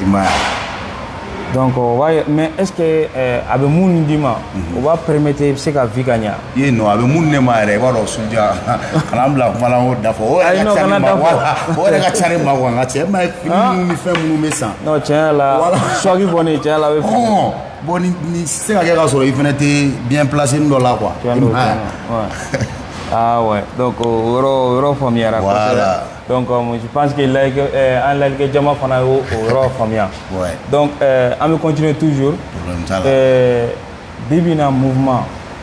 i m'a ye donc mais est ce que eh, a bɛ min d'i ma mhm. o b'a permettre i bɛ se ka vie ka ɲa ye non a bɛ min di ne ma yɛrɛ i b'a dɔn Soudian kana n bila kuma la n k'o da fɔ o yɛrɛ ka ca ne ma voilà o yɛrɛ ka ca ne ma quoi nka cɛ ma ye fini minnu ni fɛn minnu bɛ san non tiɲɛ yɛrɛ la suwagi kɔni tiɲɛ yɛrɛ la a bɛ fini bon ni ni se ka kɛ k'a sɔrɔ i fana tɛ bien placé dɔ la quoi fɛn dɔ fɛn ah ouais donc o yɔrɔ o yɔrɔ faamuyara voilà donc euh, je pense que lajɛlikɛ euh, an lajɛlikɛ jama fana y'o o yɔrɔ faamuya ouais donc euh, an bɛ continuer toujours problème t'a la euh, bi bi in na mouvement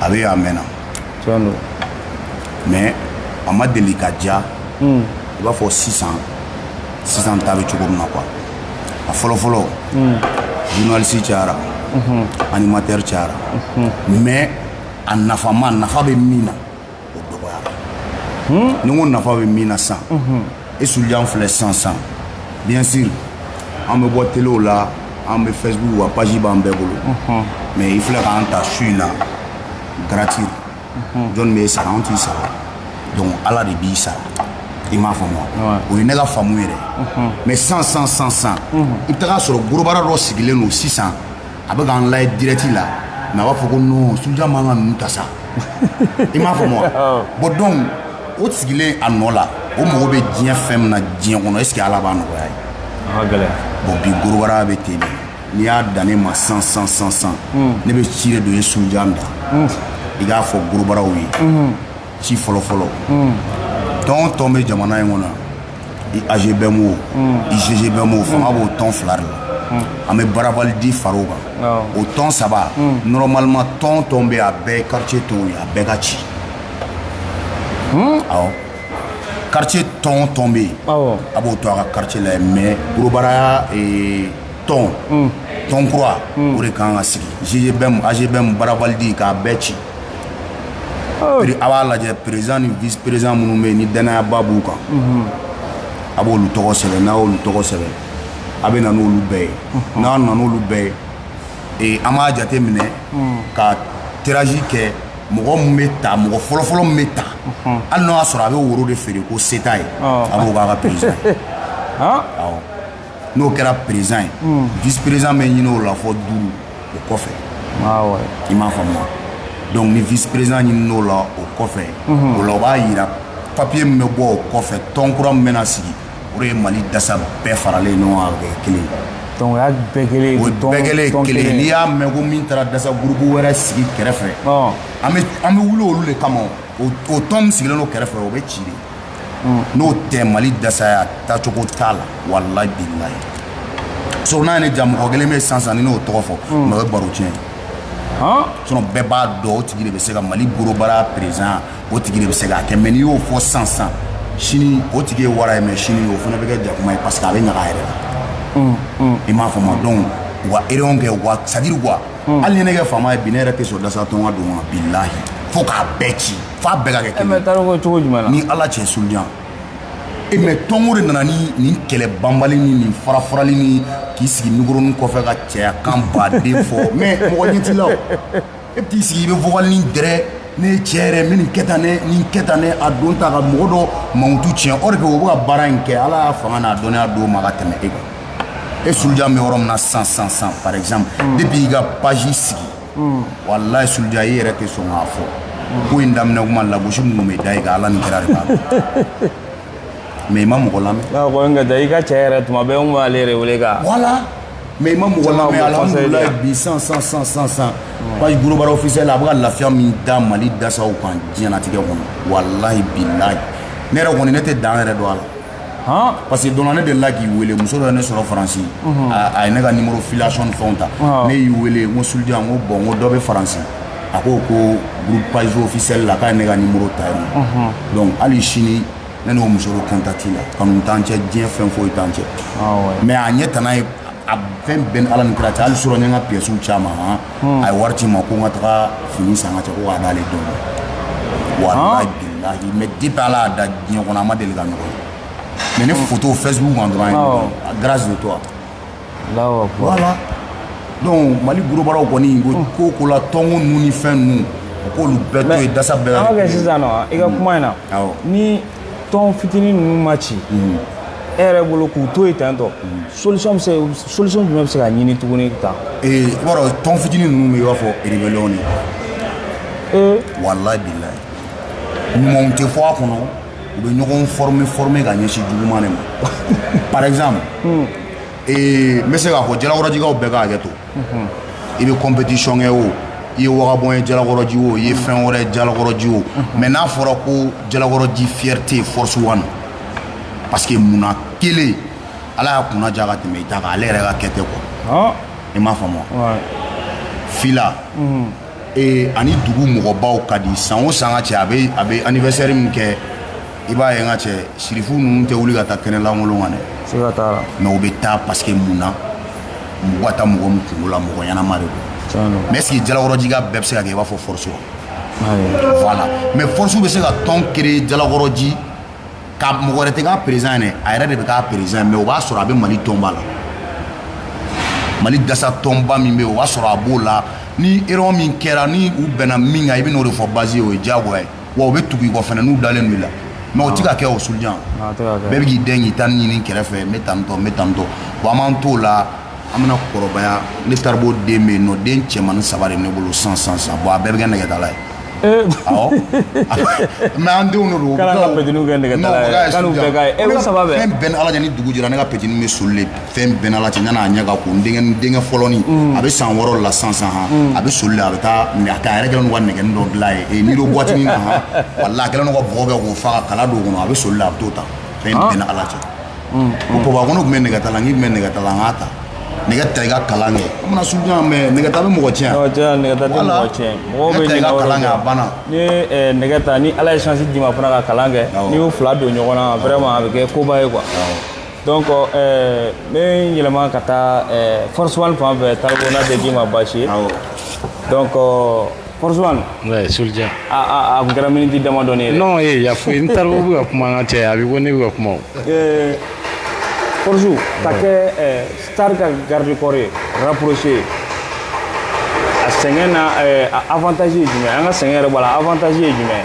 a bɛ a mɛnna mais a ma deli ka ja hmm. i b'a fɔ sisan sisan ta bɛ cogo min na quoi a fɔlɔfɔlɔ hmm. journaliste cayara mhm. animateur cayara mhm. mais a nafama nafa bɛ min na o dɔgɔyara ni n ko nafa bɛ min na san e sujan filɛ san san bien sûr an bɛ bɔ telew la an bɛ facebook wa page b'an bɛɛ bolo mais i filɛ k'an ta su in na gratuit jɔni bɛ e sara an t'i sara donc ala de b'i sara i m'a faamu wa o ye ne ka faamu yɛrɛ mais san san san san i bɛ taga sɔrɔ gorobara dɔ sigilen don sisan a bɛ k'an layɛ direct la mais a b'a fɔ ko non sujan man ka ninnu ta sa i m'a faamu wa bon donc o sigilen a nɔ la o mago bɛ diɲɛ fɛn min na diɲɛ kɔnɔ est ce que ala b'a nɔgɔya ye bon bi gorobara bɛ ten de n'i y'a dan ne ma san san san san ne bɛ ci de don e sujan da i k'a fɔ gorobaraw ye ci fɔlɔfɔlɔ hmm. tɔn tɔn bɛ jamana in kɔnɔ i agbm o i ggbm o fanga b'o tɔn fila de la an bɛ bras valide fara o kan o tɔn saba normalement tɔn tɔn bɛ a bɛɛ quartier tɔnw ye a bɛɛ ka ci awɔ quartier tɔn tɔn bɛ yen a b'o to a ka quartier la yen mais gorobaraya tɔn tɔn kura o de kan ka sigi ggbm agbm bras valide k'a bɛɛ ci Oh. A b'a lajɛ président ni vice président minnu bɛ yen ni dannayaba b'u kan mhm. a b'olu tɔgɔ sɛbɛn n'a y'olu tɔgɔ sɛbɛn a bɛ na n'olu bɛɛ ye mhm. n'a nana n'olu bɛɛ ye an b'a jate minɛ mhm. ka tirage kɛ mɔgɔ min bɛ ta mɔgɔ fɔlɔfɔlɔ min bɛ ta hali n'o y'a sɔrɔ a bɛ woro de feere ko seta ye oh. a b'o k'a ka président ye n'o kɛra président ye vice président bɛ ɲini o la fɔ duuru o kɔfɛ i m'a faamuya donc ni vice président ɲinina o la o kɔfɛ o la o b'a yira papier min bɛ bɔ o kɔfɛ tɔn kura min bɛna sigi o de ye mali dasa bɛɛ faralen ɲɔgɔn kan kɛ kelen ye donc o y'a bɛɛ kelen ye o bɛɛ kelen ye kelen ye n'i y'a mɛn ko min taara dasa groupe wɛrɛ sigi kɛrɛfɛ an bɛ wuli olu de kama o tɔn min sigilen don kɛrɛfɛ o bɛ ci de n'o tɛ mali dasaya taacogo t'a la walayi bilayi so n'a ni ja mɔgɔ kelen bɛ sansan ni n'o tɔgɔ fɔ mais o ye baro tiɲɛ sinon bɛɛ b'a dɔn o tigi de bɛ se ka mali gorobara président o tigi de bɛ se k'a kɛ mais n'i y'o fɔ sansan sini o tigi ye wara ye mais sini o fana bɛ kɛ jakuma ye parce que a bɛ ɲaga a yɛrɛ la i m'a faamu donc u ka erreur kɛ wa c'est-à-dire quoi hali ni ne kɛ faama ye bi ne yɛrɛ tɛ sɔn dasa tɔn ka don bilayi fo k'a bɛɛ ci f'a bɛɛ ka kɛ kelen ye. tariku cogo jumɛn na. ni ala cɛ sulujan e mais tɔnko de nana ni nin kɛlɛ banbali ni nin farafarali ni k'i sigi mikoronin kɔfɛ ka cɛya kan ba de fɔ mais mɔgɔ ɲɛ t'i la o e bɛ t'i sigi i bɛ vocal ni dɛrɛ ne ye cɛ yɛrɛ n bɛ nin kɛ tan ne nin kɛ tan ne a don ta ka mɔgɔ dɔ mankutu tiɲɛ o de kɛ o bɛ ka baara in kɛ ala y'a fanga n'a dɔnniya d'o ma ka tɛmɛ e kan e sulujan bɛ yɔrɔ min na sisan sisan sisan par exemple depuis i ka page sigi mm. wallahi sulujan i yɛrɛ tɛ sɔn k'a fɔ mm. ko in daminɛ kuma lagosi minnu bɛ da i kan ala ni kira de b'a dɔn mais i ma mɔgɔ lamɛn ah, ko n ka taa i ka cɛ yɛrɛ tuma bɛɛ n b'ale yɛrɛ wele ka voilà mais i ma mɔgɔ lamɛn alhamdulilayi bi san san san san san mm. page gorobara officiel a bɛ ka lafiya min da mali dasaw kan diɲɛnatigɛ kɔnɔ wallahi bilayi ne yɛrɛ kɔni ne tɛ dan yɛrɛ dɔn a la parce que donna ne delila k'i wele muso dɔ ye ne sɔrɔ faransi a ye ne ka nimoro filiation ni fɛnw ta ne y'i wele n ko sulujan n ko bon n ko dɔ bɛ faransi a ko ko groupe page officielle la k'a ye ne ka nimoro ta yen nɔ donc hali sini ne n'o muso bɛ contact la kanu t'an cɛ diɲɛ fɛn foyi t'an cɛ mais a ɲɛ tana ye a fɛn bɛɛ ni ala ni kira cɛ hali surɔ n ye n ka pièces caman a ye wari ci n ma ko n ka taga fini san ka cɛ ko k'a d'ale denw ma walayi bilahi mais depuis ala y'an da diɲɛ kɔnɔ an ma deli ka ɲɔgɔn ye mais ne foto facebook kan dɔrɔn a grâce de toi voilà donc mali gorobaraw kɔni ko ko ko la tɔnko ninnu ni fɛn ninnu o k'olu bɛɛ to yen dasa bɛɛ an ka kɛ sisan nɔ i ka kuma in na ni tɔn fitinin ninnu ma ci mm. e yɛrɛ bolo k'u to yen ten tɔ mm. solution bɛ se solution jumɛn bɛ se ka ɲini tuguni tan. ee i b'a dɔn tɔn fitinin ninnu bɛ i b'a fɔ rébellion de. ee. walayi bilayi ɲumanw tɛ fɔ a kɔnɔ u bɛ ɲɔgɔn former former ka ɲɛsin juguman de ma par exemple. Mm. ee n bɛ se k'a fɔ jalakɔrɔjikaw bɛɛ ka hakɛ to. i bɛ compétition kɛ o i ye wagabɔn ye jalakɔrɔji o i ye fɛn wɛrɛ ye jalakɔrɔji o mais n'a fɔra ko jalakɔrɔji fierté force one parce que munna kelen ala y'a kunna diya ka tɛmɛ i ta kan ale yɛrɛ ka kɛ tɛ quoi i m'a faamu fila a ni dugu mɔgɔbaw ka di san o san ka cɛ a bɛ a bɛ anniversaire min kɛ i b'a ye n ka cɛ sirifu ninnu tɛ wuli ka taa kɛnɛ lankolon kan dɛ mais u bɛ taa parce que mun na mɔgɔ ka taa mɔgɔ min kungo la mɔgɔ ɲɛnama de don mais est-ce que jalakɔrɔjika bɛɛ bɛ se ka kɛ i b'a fɔ force wa voilà mais force bɛ se ka tɔn créer jalakɔrɔji ka mɔgɔ wɛrɛ tɛ k'a président ye dɛ a yɛrɛ de bɛ k'a président ye mais o b'a sɔrɔ a bɛ mali tɔnba la mali dasa tɔnba min bɛ yen o b'a sɔrɔ a b'o la ni erreur min kɛra ni u bɛnna min kan i bɛ n'o de fɔ base ye o ye diyagoya ye wa u bɛ tugu i kɔ fana n'u dalen don i la mais o tɛ ka kɛ o Soulidian bɛɛ bɛ k'i den k'i ta ɲini kɛrɛfɛ n bɛ tan tɔ n bɛ tan tɔ wa an b'an t'o la an bɛna kɔrɔbaya ne taribo den bɛ yen nɔ den cɛmannin saba de ne bolo san san san bɔn a bɛɛ bɛ kɛ nɛgɛtala ye mais an denw de don kɛ nɛgɛ fɛn bɛ n ni ala cɛ ni dugu jɛra ne ka petini bɛ soli fɛn bɛ n ni ala cɛ yan'a ɲɛ ka ko n denkɛ fɔlɔnin mm. a bɛ san wɔɔrɔ la san san mm. a bɛ soli la a bɛ taa mais a yɛrɛ kɛlen ka nɛgɛ dɔ dilan ye nido boîte na walahi a kɛlen ka bɔgɔ kɛ k'o fa ka kala don o kɔnɔ a bɛ soli la a bɛ t'o ta fɛn ah. bɛ n ni ala cɛ mm, ko baba ko ne tun bɛ nɛgɛta la n k'i tun bɛ nɛgɛta la n k'a ta nɛgɛ ta i ka kalan kɛ a banna Soulidian mais nɛgɛ ta bɛ mɔgɔ tiɲɛ nɛgɛ ta nɛgɛ ta tɛ mɔgɔ tiɲɛ mɔgɔw bɛ ɲinɛ o de kan a banna n'i ye nɛgɛ ta ni ala ye chance d'i ma fana ka kalan kɛ n'i y'u fila don ɲɔgɔn na vraiment a bɛ kɛ koba ye quoi donc ɛɛ n bɛ n yɛlɛma ka taa ɛɛ force one fan fɛ taribo n'a tɛ k'i ma baasi ye donc force one. oui Soulidian. a a a tun kɛra miniti damadɔni ye dɛ. non ee y'a fɔ n taribo bɛ ka kuma an ka cɛ a bɛ ko ne bɛ ka kuma o. ɛɛ force ka kɛ ɛɛ star ka garde corps ye rapproché ye a sɛgɛn na ɛɛ avantage ye jumɛn an ka sɛgɛn yɛrɛ b'a la avantage ye jumɛn ye.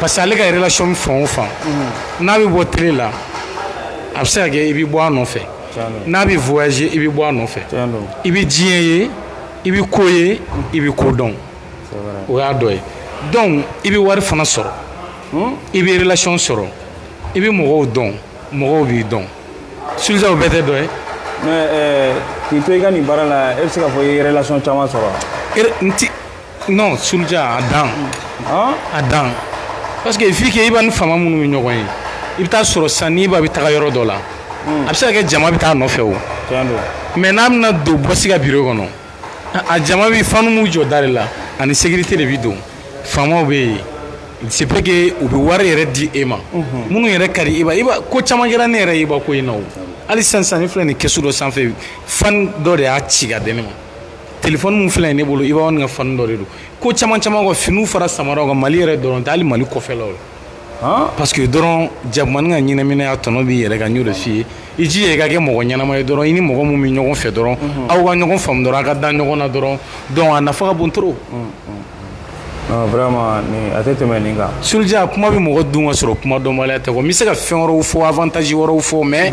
parce que ale ka relation fan o fan n'a bɛ bɔ télé la a bɛ se ka kɛ i bɛ bɔ a nɔfɛ n'a bɛ voyager i bɛ bɔ a nɔfɛ i bɛ diɲɛ ye i bɛ ko ye i bɛ ko dɔn o y'a dɔ ye donc i bɛ wari fana sɔrɔ i bɛ relation sɔrɔ i bɛ mɔgɔw dɔn mɔgɔw b'i dɔn Sulja o bɛɛ tɛ dɔ ye mais k'i to i ka nin baara la e bɛ se k'a fɔ i ye relation caman sɔrɔ wa n ti non Sulja a dan a dan parce que vu que Iba ni faama minnu bɛ ɲɔgɔn ye i bɛ taa sɔrɔ sisan n'Iba bɛ taga yɔrɔ dɔ la a bɛ se ka kɛ jama bɛ taa nɔfɛ o mais n'a bɛna don bɔsi ka biro kɔnɔ a jama bɛɛ fanw b'u jɔ da de la ani sécurité de bɛ don faamaw bɛ yen c'est vrai que u bɛ wari yɛrɛ di e ma minnu yɛrɛ ka di Iba Iba ko caman kɛra ne yɛrɛ ye Iba ko in na o hali sisan sisan ne filɛ nin kɛsu dɔ sanfɛ fan dɔ de y'a ci ka di ne ma telefɔni min filɛ ne bolo iba wan ka fani dɔ de don ko caman caman ka finiw fara samaraw kan mali yɛrɛ dɔrɔn tɛ hali mali kɔfɛlaw la parce que dɔrɔn jakumani ka ɲinɛminɛ tɔnɔ b'i yɛrɛ kan n y'o de f'i ye i jija i ka kɛ mɔgɔ ɲɛnama ye dɔrɔn i ni mɔgɔ min bɛ ɲɔgɔn fɛ dɔrɔn aw ka ɲɔgɔn faamu dɔrɔn a ka da ɲɔgɔn na dɔrɔn donc a nafa ka bon trop vraiment nin a tɛ tɛmɛ nin kan suluja kuma bɛ mɔgɔ dun ka sɔrɔ kuma dɔnbaliya tɛ quoi n bɛ se ka fɛn wɛrɛw fɔ avantage wɛrɛw fɔ mais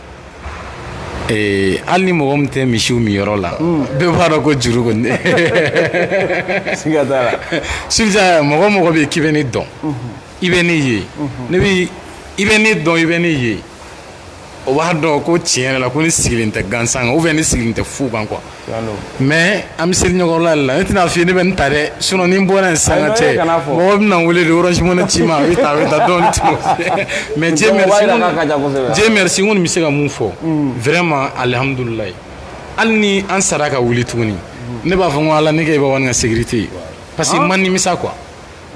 Ee hali ni mɔgɔ min tɛ misiw min yɔrɔ la bɛɛ b'a dɔn ko juru kɔni siga t'a la sulja mɔgɔ mɔgɔ bɛ k'i bɛ ne dɔn i bɛ ne ye ne i bɛ ne dɔn i bɛ ne ye o b'a dɔn ko tiɲɛ yɛrɛ la ko ne sigilen tɛ gansan kan ou bien ne sigilen tɛ fu kan quoi mais an bɛ seli ɲɔgɔnla la ne tɛna f'i ye ne bɛ nin ta dɛ sinon ni n bɔra yen sisan ka cɛ mɔgɔ bɛna n wele de orange money ci n ma a bɛ ta a bɛ ta dɔɔni ci mais Dieu merci Dieu merci n kɔni bɛ se ka mun fɔ vraiment alihamudulilayi hali ni an sara ka wuli tuguni ne b'a fɔ n ko ala ne kɛ iba wani ka sécurité ye parce que n ma nimisa quoi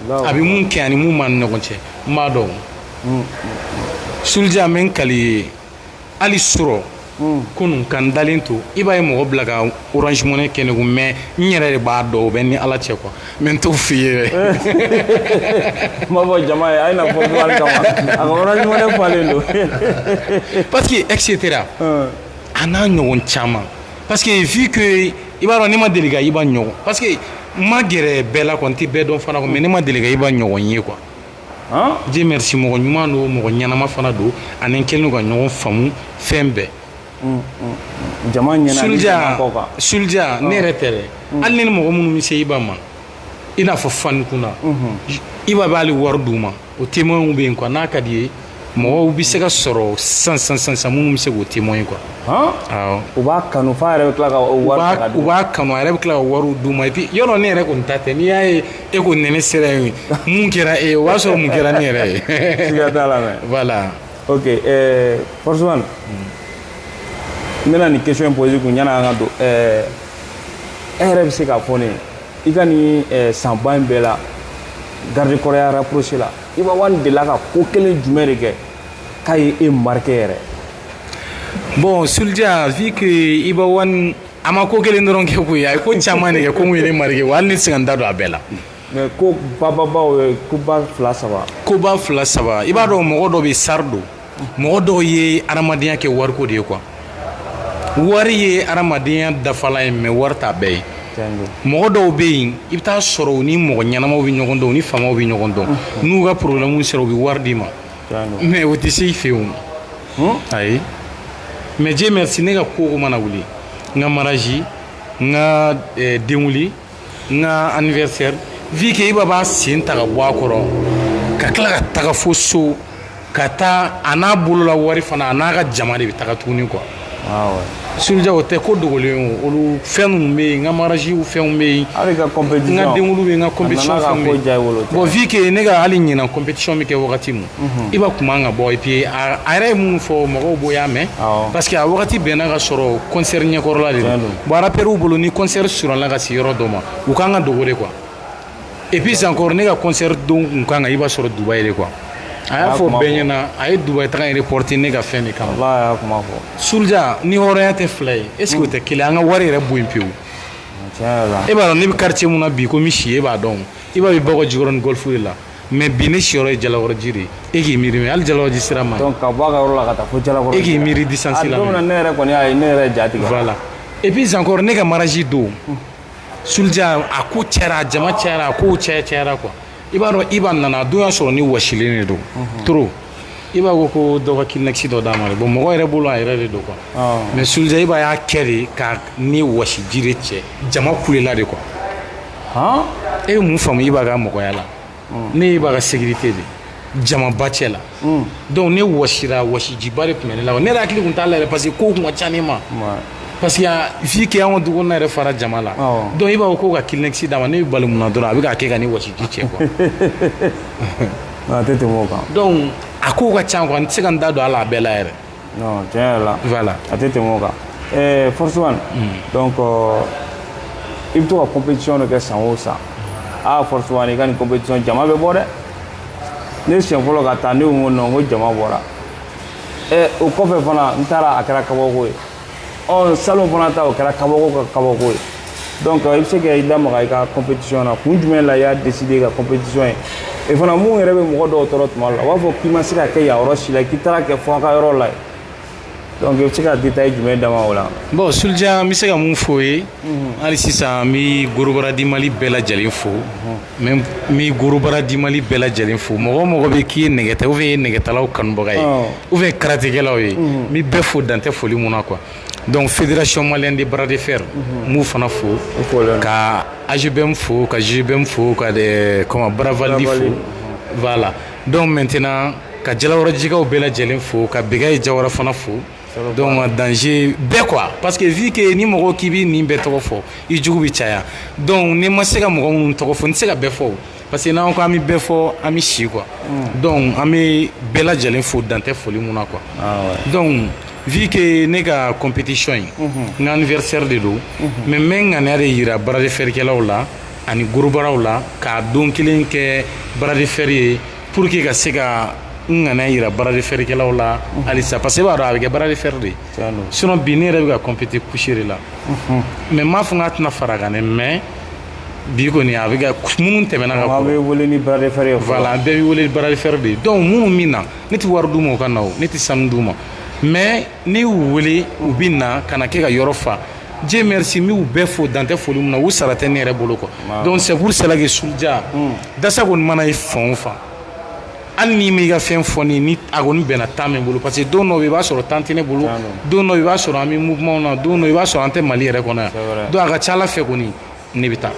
a bɛ mun kɛ ani mun b'an ni ɲɔgɔn cɛ n b'a dɔn suluja n bɛ n kali hali sɔrɔ kunun ka dalen to i b'a ye mɔgɔ bila ka ouransimɛ kɛ negu mɛ n yɛrɛ de b'a dɔn o bɛ ni ala cɛ kuwa mɛ n t' f fɔ i ye dɛ kuma fɔ jama ye a fɔ don pa que ese tɛ a n'a ɲɔgɔn caman pa que ye vi i b'a dɔn ne ma deli i' ɲɔgɔn pa que ma gɛrɛ bɛɛ la n tɛ bɛɛ dɔn fana mɛ ne ma deli i' ɲɔgɔn ye kuwa Dieu merci mɔgɔ ɲuman don mɔgɔ ɲɛnama fana don ani an kɛlen don ka ɲɔgɔn faamu fɛn bɛɛ suluja ne yɛrɛ tɛ dɛ hali ni mɔgɔ minnu bɛ se iba ma i n'a fɔ fani kunna iba bɛ hali wari d'u ma o témoinw bɛ yen quoi n'a ka di i ye mɔgɔw bɛ se ka sɔrɔ sisan sisan sisan sisan minnu bɛ se k'o témoin quoi awɔ u b'a kanu f'a yɛrɛ bɛ tila ka o u wari ta k'a d'u ma u b'a kanu a yɛrɛ bɛ tila ka wariw d'u ma et puis yɔrɔ ne yɛrɛ kɔni ta tɛ n'i y'a ye e ko nɛnɛ sera yen mun kɛra e ye o b'a sɔrɔ mun kɛra ne yɛrɛ ye siga t'a la mais voilà ok ɛɛ forceman n bɛna nin question in poser kun yanni an ka don ɛɛ e yɛrɛ bɛ se k'a fɔ ne ye i ka nin ɛɛ sanba in bɛɛ la garde corpsya rapproché la iba wan delila ka ko kelen jumɛn de kɛ k'a ye e marqué yɛrɛ bon sulja vu que iba wan a ma ko kelen dɔrɔn kɛ koyi a ye ko caman de kɛ ko mun ye ne marqué wa hali ne tɛ se ka n da don a bɛɛ la mais ko bababaw ye koba fila saba koba fila saba i b'a dɔn mɔgɔ dɔ bɛ sari don mɔgɔ dɔw ye hadamadenya kɛ wariko de ye quoi wari ye hadamadenya dafalan ye mais wari t'a bɛɛ ye mɔgɔ dɔw bɛ yen i bɛ taa sɔrɔ u ni mɔgɔ ɲɛnamaw bɛ ɲɔgɔn dɔn u ni faamaw bɛ ɲɔgɔn dɔn n'u ka problème sera u bɛ wari d'i ma mais o tɛ se i fɛ yen o ayi mais Dieu merci ne ka ko o ko mana wuli n ka mariage n ka denkunli n ka anniversaire vu que Iba b'a sen ta ka bɔ a kɔrɔ ka tila ka taga fo so ka taa a n'a bolola wari fana a n'a ka jama de bɛ taga tuguni quoi Sulja o tɛ ko dogolen o olu fɛn ninnu bɛ yen n ka mariage fɛnw bɛ yen n ka denkunli bɛ yen n ka compétition fɛnw bɛ yen bon vu que ne ka hali ɲinan compétition bɛ kɛ wagati min Iba kuma ka bɔ et puis a yɛrɛ ye minnu fɔ mɔgɔw bɛɛ y'a mɛn parce que a wagati bɛnna k'a sɔrɔ concert ɲɛkɔrɔla de don bon rappeurs bolo ni concert surunyala ka se yɔrɔ dɔ ma u kan ka dogo de quoi et puis encore ne ka concert don tun kan ka Iba sɔrɔ Dubaï de quoi a y'a fɔ bɛɛ ɲɛ na a ye Dubaï taga in reporter ne ka fɛn de kama Sulja ni hɔrɔnya tɛ fila ye est-ce que o tɛ kelen an ka wari yɛrɛ bɔ yen pewu e b'a dɔn ne bɛ quartier min na bi ko misi si e b'a dɔn Iba bɛ Bakɔjikɔrɔni Golf de la Mais bi ne siyɔrɔ ye Jalakɔrɔji de e k'i miiri mais hali Jalakɔrɔji sira ma ka bɔ a ka yɔrɔ la ka taa fo Jalakɔrɔji e k'i miiri distance la ne yɛrɛ kɔni a ye ne yɛrɛ ja tigɛ voilà et puis encore ne ka mariage don Sulja a ko cɛyara jama cɛyara a ko cɛ cɛyara quoi i b'a dɔn Iba nana a don y'a sɔrɔ ne wasilen de don trop Iba ko ko dɔ ka Kleenex dɔ d'a ma bon mɔgɔ yɛrɛ bolo a yɛrɛ de don quoi mais Sulja Iba y'a kɛ de ka ne wasiji de cɛ jama kulela de quoi e ye mun faamu Iba ka mɔgɔya la ne ye Iba ka sécurité de jamaba cɛ la donc ne wɔsira wɔsijiba de tun bɛ ne la ne yɛrɛ hakili tun t'a la yɛrɛ parce que kow tun ka ca ne ma parce que vu que an ka dukɔnɔna yɛrɛ fara jama la donc Iba ko ka Kleenex d'a ma ne bɛ bali mun na dɔrɔn a bɛ k'a kɛ ka ne wɔsiji cɛ quoi a tɛ tɛmɛ o kan donc a kow ka ca quoi n tɛ se ka n da don a la a bɛɛ la yɛrɛ non tiɲɛ yɛrɛ la voilà a tɛ tɛmɛ o kan ɛɛ Force One donc euh, i bɛ to ka compétition de kɛ san o san aa Force One i ka nin compétition jama bɛ bɔ dɛ ne siɲɛ fɔlɔ ka taa ne ko non ko jama bɔra ɛ o kɔfɛ fana n taara a kɛra kabako ye ɔ salon fana ta o kɛra kabako ka kabako ye donc i bɛ se ka i da maga i ka compétition na kun jumɛn la i y'a décider ka compétition ye e fana mun yɛrɛ bɛ mɔgɔ dɔw tɔɔrɔ tuma la u b'a fɔ k'i ma se ka kɛ yan yɔrɔ si la k'i taara kɛ fo a ka yɔrɔ la ye donc i bɛ se ka détail jumɛn d'an ma o la. bon Sulja n bɛ se ka mun fɔ o ye hali sisan n bɛ Gorobaradi Mali bɛɛ lajɛlen fo. N bɛ gorobara di Mali bɛɛ lajɛlen fo mɔgɔ o mɔgɔ bɛ yen k'i ye nɛgɛta ou bien i ye nɛgɛtalaw kanubaga ye ou bien karatekɛlaw ye n bɛ bɛɛ fo dan tɛ foli min na quoi donc fédération malienne de bras de fer n b'u fana fo ka AGBM fo ka GBM fo ka comment Baravaldi fo voilà donc maintenant ka Jalakɔrɔjikaw bɛɛ lajɛlen fo ka Bɛkayi Jawara fana fo donc danger bɛ quoi parce que vu que ni mɔgɔ k'i bɛ nin bɛɛ tɔgɔ fɔ i jugu bɛ caya donc ni n ma se ka mɔgɔ minnu tɔgɔ fɔ n tɛ se ka bɛɛ fɔ parce que n'an ko an bɛ bɛɛ fɔ an bɛ si quoi donc an bɛ bɛɛ lajɛlen fo dan tɛ foli min na quoi donc vu que ne ka compétition in n ka anniversaire de don mais n bɛ n ŋaniya de jira bras de fer kɛlaw la ani gorobaraw la k'a don kelen kɛ bras de fer ye Pour que ka se ka n ŋaniya yira bras de fer kɛlaw la halisa parce que i b'a dɔn a bɛ kɛ bras de fer de sinon bi ne yɛrɛ bɛ ka compéter couché de la mais n m'a fɔ n k'a tɛna fara kan dɛ mais bi kɔni a bɛ ka minnu tɛmɛna ka bɔ bɛ wele ni bras de fer ye voilà bɛɛ bɛ wele ni bras de fer de ye donc minnu min na ne tɛ wari d'u ma u ka na o ne tɛ sanu d'u ma mais ni n y'u wele u bɛ na ka na kɛ ka yɔrɔ fa Dieu merci n b'u bɛɛ fo dan tɛ foli min na u sara tɛ ne yɛrɛ bolo quoi donc c'est pour cela que Sulja dasa kɔni mana ye fan o fan hali n'i m'i ka fɛn fɔ n ye ni a kɔni bɛnna temps bɛ n bolo parce que don dɔ i b'a sɔrɔ temps tɛ ne bolo don dɔ i b'a sɔrɔ an bɛ mouvement na don dɔ i b'a sɔrɔ an tɛ Mali yɛrɛ kɔnɔ yan donc a ka ca Ala fɛ kɔni ne bɛ taa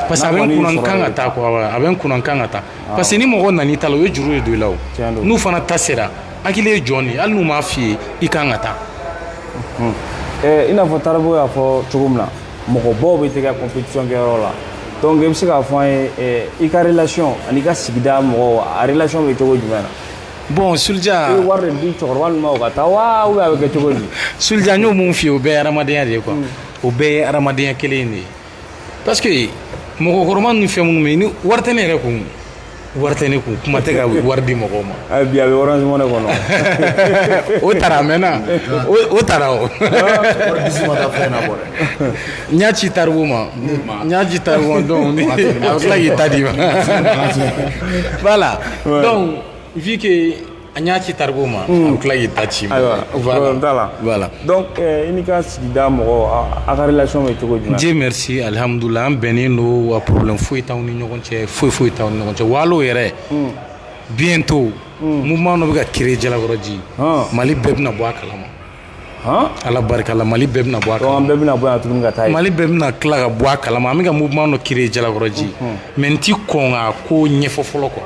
parce que a bɛ n kunna n kan ka taa quoi a bɛ n kunna n kan ka taa parce que ni mɔgɔ nan'i ta la o ye juru de don i la o n'u fana ta sera hakili ye jɔn de ye hali n'u m'a f'i ye i kan ka taa i n'a fɔ Taribo y'a fɔ cogo min na mɔgɔbaw bɛ t'i ka compétition kɛ yɔrɔ la donc i bɛ se k'a fɔ an ye i ka relation ani i ka sigida mɔgɔw a relation bɛ cogo jumɛn na bon Sulja i bɛ wari de di cɛkɔrɔba ninnu ma u ka taa wa ou bien a bɛ kɛ cogo di Sulja n y'o min f'i ye o bɛɛ ye hadamadenya de ye quoi o bɛɛ ye adamadenya kelen in de ye parce que mɔgɔkɔrɔba ninnu fɛn minnu bɛ yen ni wari tɛ ne yɛrɛ kun wari tɛ ne kun kuma tɛ ka wari di mɔgɔw ma a bi a bɛ orange money kɔnɔ o taara a mɛnna o taara o wari disi ma taa fɛn na bɔ dɛ n y'a ci Taribo ma n y'a ci Taribo ma donc a bɛ tila k'i ta d'i ma voilà donc vu que An y'a ci Taribo ma a bɛ tila k'i ta c'i ma voilà donc i n'i ka sigida mɔgɔ a ka relation bɛ cogo jumɛn Dieu merci alihamudulila an bɛnnen don wa problème foyi t'an ni ɲɔgɔn cɛ foyi foyi t'an ni ɲɔgɔn cɛ wa hal'o yɛrɛ bientôt mouvement dɔ bɛ ka créer Jalakɔrɔji Mali bɛɛ bɛna bɔ a kalama Ala barika la mali bɛɛ bɛna bɔ a kalama, an bɛɛ bɛna bɔ yan tuguni ka taa yen, mali bɛɛ bɛna tila ka bɔ a kalama, an bɛ ka mouvement dɔ créer Jalakɔrɔji mais n tɛ kɔn k'a ko ɲɛfɔ fɔlɔ quoi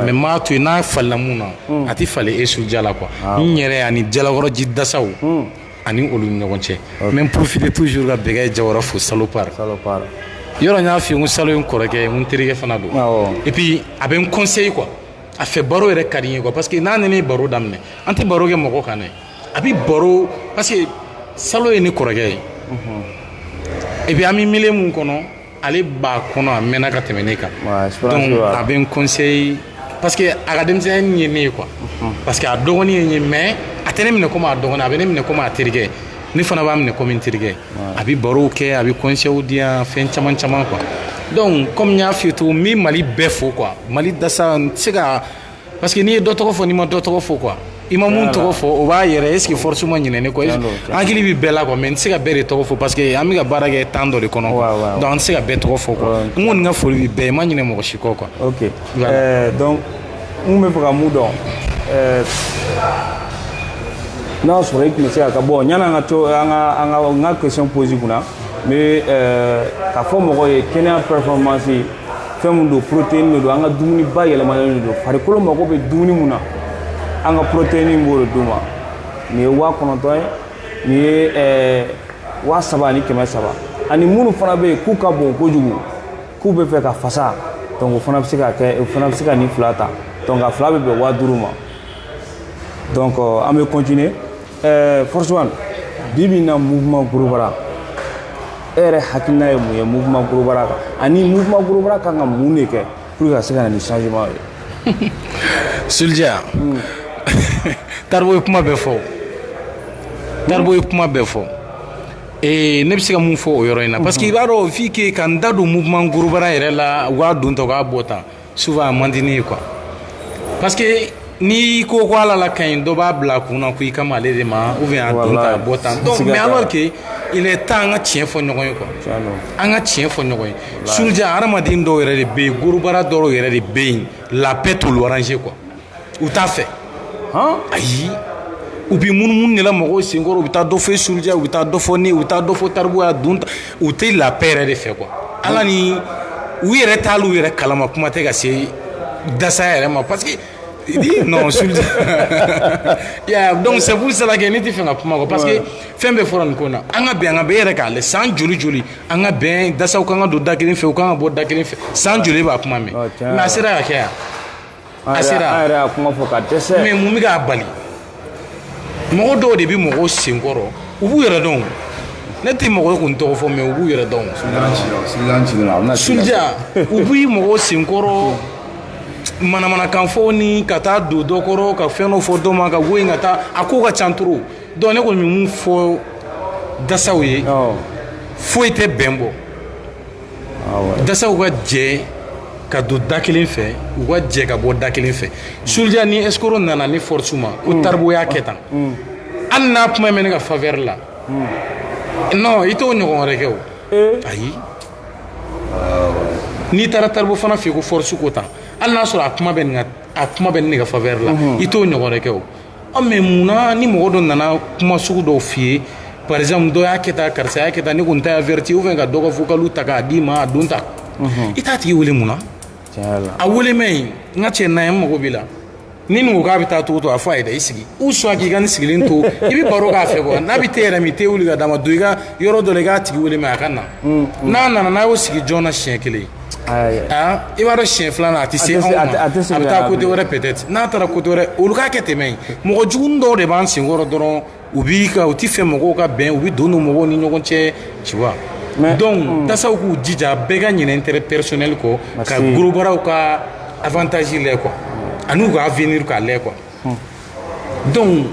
mais n b'a to yen n'a falila mun na a tɛ falen e Sulja la quoi n yɛrɛ ani Jalakɔrɔji dasaw ani olu ni ɲɔgɔn cɛ n bɛ n profiter toujours ka Bɛgɛye Jawara fo Salopard yɔrɔ n y'a f'i ye n ko Salo ye n kɔrɔkɛ ye n ko n terikɛ fana don et puis a bɛ n conseiller quoi a fɛ baro yɛrɛ ka di n ye quoi parce que n'a ni ne ye baro daminɛ an tɛ baro kɛ mɔgɔ kan dɛ a bɛ baro parce que salo ye ne kɔrɔkɛ ye et puis an bɛ milieu min kɔnɔ ale b'a kɔnɔ a mɛnna ka tɛmɛ ne kan Ouais, expérience donc de b'a la. a bɛ n conseil parce que a ka denmisɛnnin ye ne ye quoi parce que a dɔgɔnin ye n ye mais a tɛ ne minɛ komi a dɔgɔnin a bɛ ne minɛ komi a terikɛ ne fana b'a minɛ komi n terikɛ a bɛ barow kɛ a bɛ conseils di yan fɛn caman caman quoi donc comme n y'a f'i ye cogo min n bɛ Mali bɛɛ fo quoi Mali dasa n tɛ se ka Parce que n'i ye dɔ tɔgɔ fɔ n'i ma dɔ tɔgɔ fɔ quoi i ma mun tɔgɔ fɔ o b'a yɛrɛ est ce que force ma ɲinɛ ne kɔ est ce que hakili bɛ bɛɛ la quoi mais n tɛ se ka bɛɛ de tɔgɔ fɔ parce que an bɛ ka baara kɛ temps dɔ de kɔnɔ quoi donc an tɛ se ka bɛɛ tɔgɔ fɔ quoi n kɔni ka foli bɛ bɛɛ ye n ma ɲinɛ mɔgɔ si kɔ quoi. ok ɛɛ donc n tun bɛ fɛ ka mun dɔn ɛɛ n'a y'a sɔrɔ e tun bɛ se ka ka bɔ yanni an ka to an ka an ka n ka question pose kunna n bɛ ɛɛ k'a fɔ mɔgɔw ye kɛnɛya performance fɛn min don protéine de don an ka dumuni bayɛlɛmalen de don farikolo mago bɛ dumuni mun na an ka protéine b'o de d'u ma nin ye waa kɔnɔntɔn ye nin ye ɛɛ eh, waa saba ani kɛmɛ saba ani minnu fana bɛ yen k'u ka bon kojugu k'u bɛ fɛ ka fasa donc o fana bɛ se ka kɛ o fana bɛ se ka nin fila ta donc a fila bɛ bɛn waa duuru ma donc euh, an bɛ continuer ɛɛ force one bi bi in na mouvement gorobara e yɛrɛ hakilina ye mun ye mouvement gorobara kan ani mouvement gorobara kan ka mun de kɛ pour que ka se ka na ni changement ye Sulja Taribo ye kuma bɛɛ fɔ Taribo ye kuma bɛɛ fɔ ee ne bɛ se ka mun fɔ o yɔrɔ in na parce que i b'a dɔn f'i ke ka n da don mouvement gorobara yɛrɛ la u k'a don tan u k'a bɔ tan souvent a man di ne ye quoi parce que n'i ko ko ala la ka ɲi dɔ b'a bila a kun na ko i kan b'ale de ma ou bien a don tan a bɔ tan donc mais alors que il est temps an ka tiɲɛ fɔ ɲɔgɔn ye quoi an ka tiɲɛ fɔ ɲɔgɔn ye Sulja hadamaden dɔw yɛrɛ de bɛ yen gorobara dɔw yɛrɛ de bɛ yen la paix t'olu arranger quoi u t'a fɛ ayi u bɛ munumunu de la mɔgɔw senkɔrɔ u bɛ taa dɔ fɔ Sulja ye u bɛ taa dɔ fɔ ne u bɛ taa dɔ fɔ Taribo ye donc u tɛ la paix yɛrɛ de fɛ quoi ala ni u yɛrɛ t'u yɛrɛ kalama kuma tɛ ka se dasa yɛrɛ ma parce que non Sulja donc c'est pour cela que ne tɛ fɛ ka kuma parce que fɛn bɛɛ fɔra nin ko na an ka bɛn an ka bɛn e yɛrɛ k'a lajɛ san joli joli an ka bɛn dasaw ka kan ka don da kelen fɛ u ka kan ka bɔ da kelen fɛ san joli b'a kuma mɛn a sera ka kɛ yan A sera an yɛrɛ y'a kuma fɔ ka dɛsɛ mais mun bɛ k'a bali mɔgɔ dɔw de bɛ mɔgɔw senkɔrɔ u b'u yɛrɛ dɔn ne tɛ mɔgɔ ye kun tɔgɔ fɔ mais u b'u yɛrɛ dɔn Soulja u bɛ mɔgɔw senkɔrɔ manamanakan fɔ ni ka taa don dɔ kɔrɔ ka fɛn dɔ fɔ dɔ ma ka bɔ yen ka taa a ko ka ca trop donc ne kɔni bɛ mun fɔ dasaw ye foyi tɛ bɛn bɔ dasaw ka jɛ ka don da kelen fɛ u ka jɛ ka bɔ da kelen fɛ Soulja ni escroc nana ne force ma ko taribo y'a kɛ tan hali n'a kuma bɛ ne ka faveur la non i t'o ɲɔgɔn wɛrɛ kɛ o ayi n'i taara taribo fana fɛ yen ko force ko tan hali n'a sɔrɔ a kuma bɛ nin ka a kuma bɛ nin de ka faveur la i t'o ɲɔgɔn wɛrɛ kɛ o mais mun na ni mɔgɔ dɔ nana kuma sugu dɔw f'i ye par exemple dɔ y'a kɛ tan karisa y'a kɛ tan ne kɔni t'a averti ou bien ka dɔ ka vocal ta k'a d'i ma a don ta i t'a tigi wele mun na a wele mɛ yen n ka cɛ na ye n mago b'i la ni nin ko k'a bɛ taa cogo to a fɔ a ye dɛ i sigi ou soit k'i ka nin sigilen to i bɛ baro k'a fɛ quoi n'a bɛ te yɛrɛ min te wuli ka d'a ma don i ka yɔrɔ dɔ la i k'a tigi wele mɛ a ka na n'a nana n'a y'o sigi joona siɲɛ kelen i b'a dɔn siɲɛ filanan a tɛ se anw ma a bɛ taa côté wɛrɛ peut-être n'a taara côté wɛrɛ olu k'a kɛ tɛmɛ yen mɔgɔ jugu dɔw de b'an senkɔrɔ dɔrɔn u b'i ka u tɛ fɛ mɔgɔw ka bɛn u bɛ don mɔgɔw ni ɲɔgɔn cɛ tu vois donc dasaw k'u jija bɛɛ ka ɲinɛ intérêt personnel kɔ ka gorobaraw ka avantage lajɛ quoi ani u ka avenir k'a lajɛ quoi donc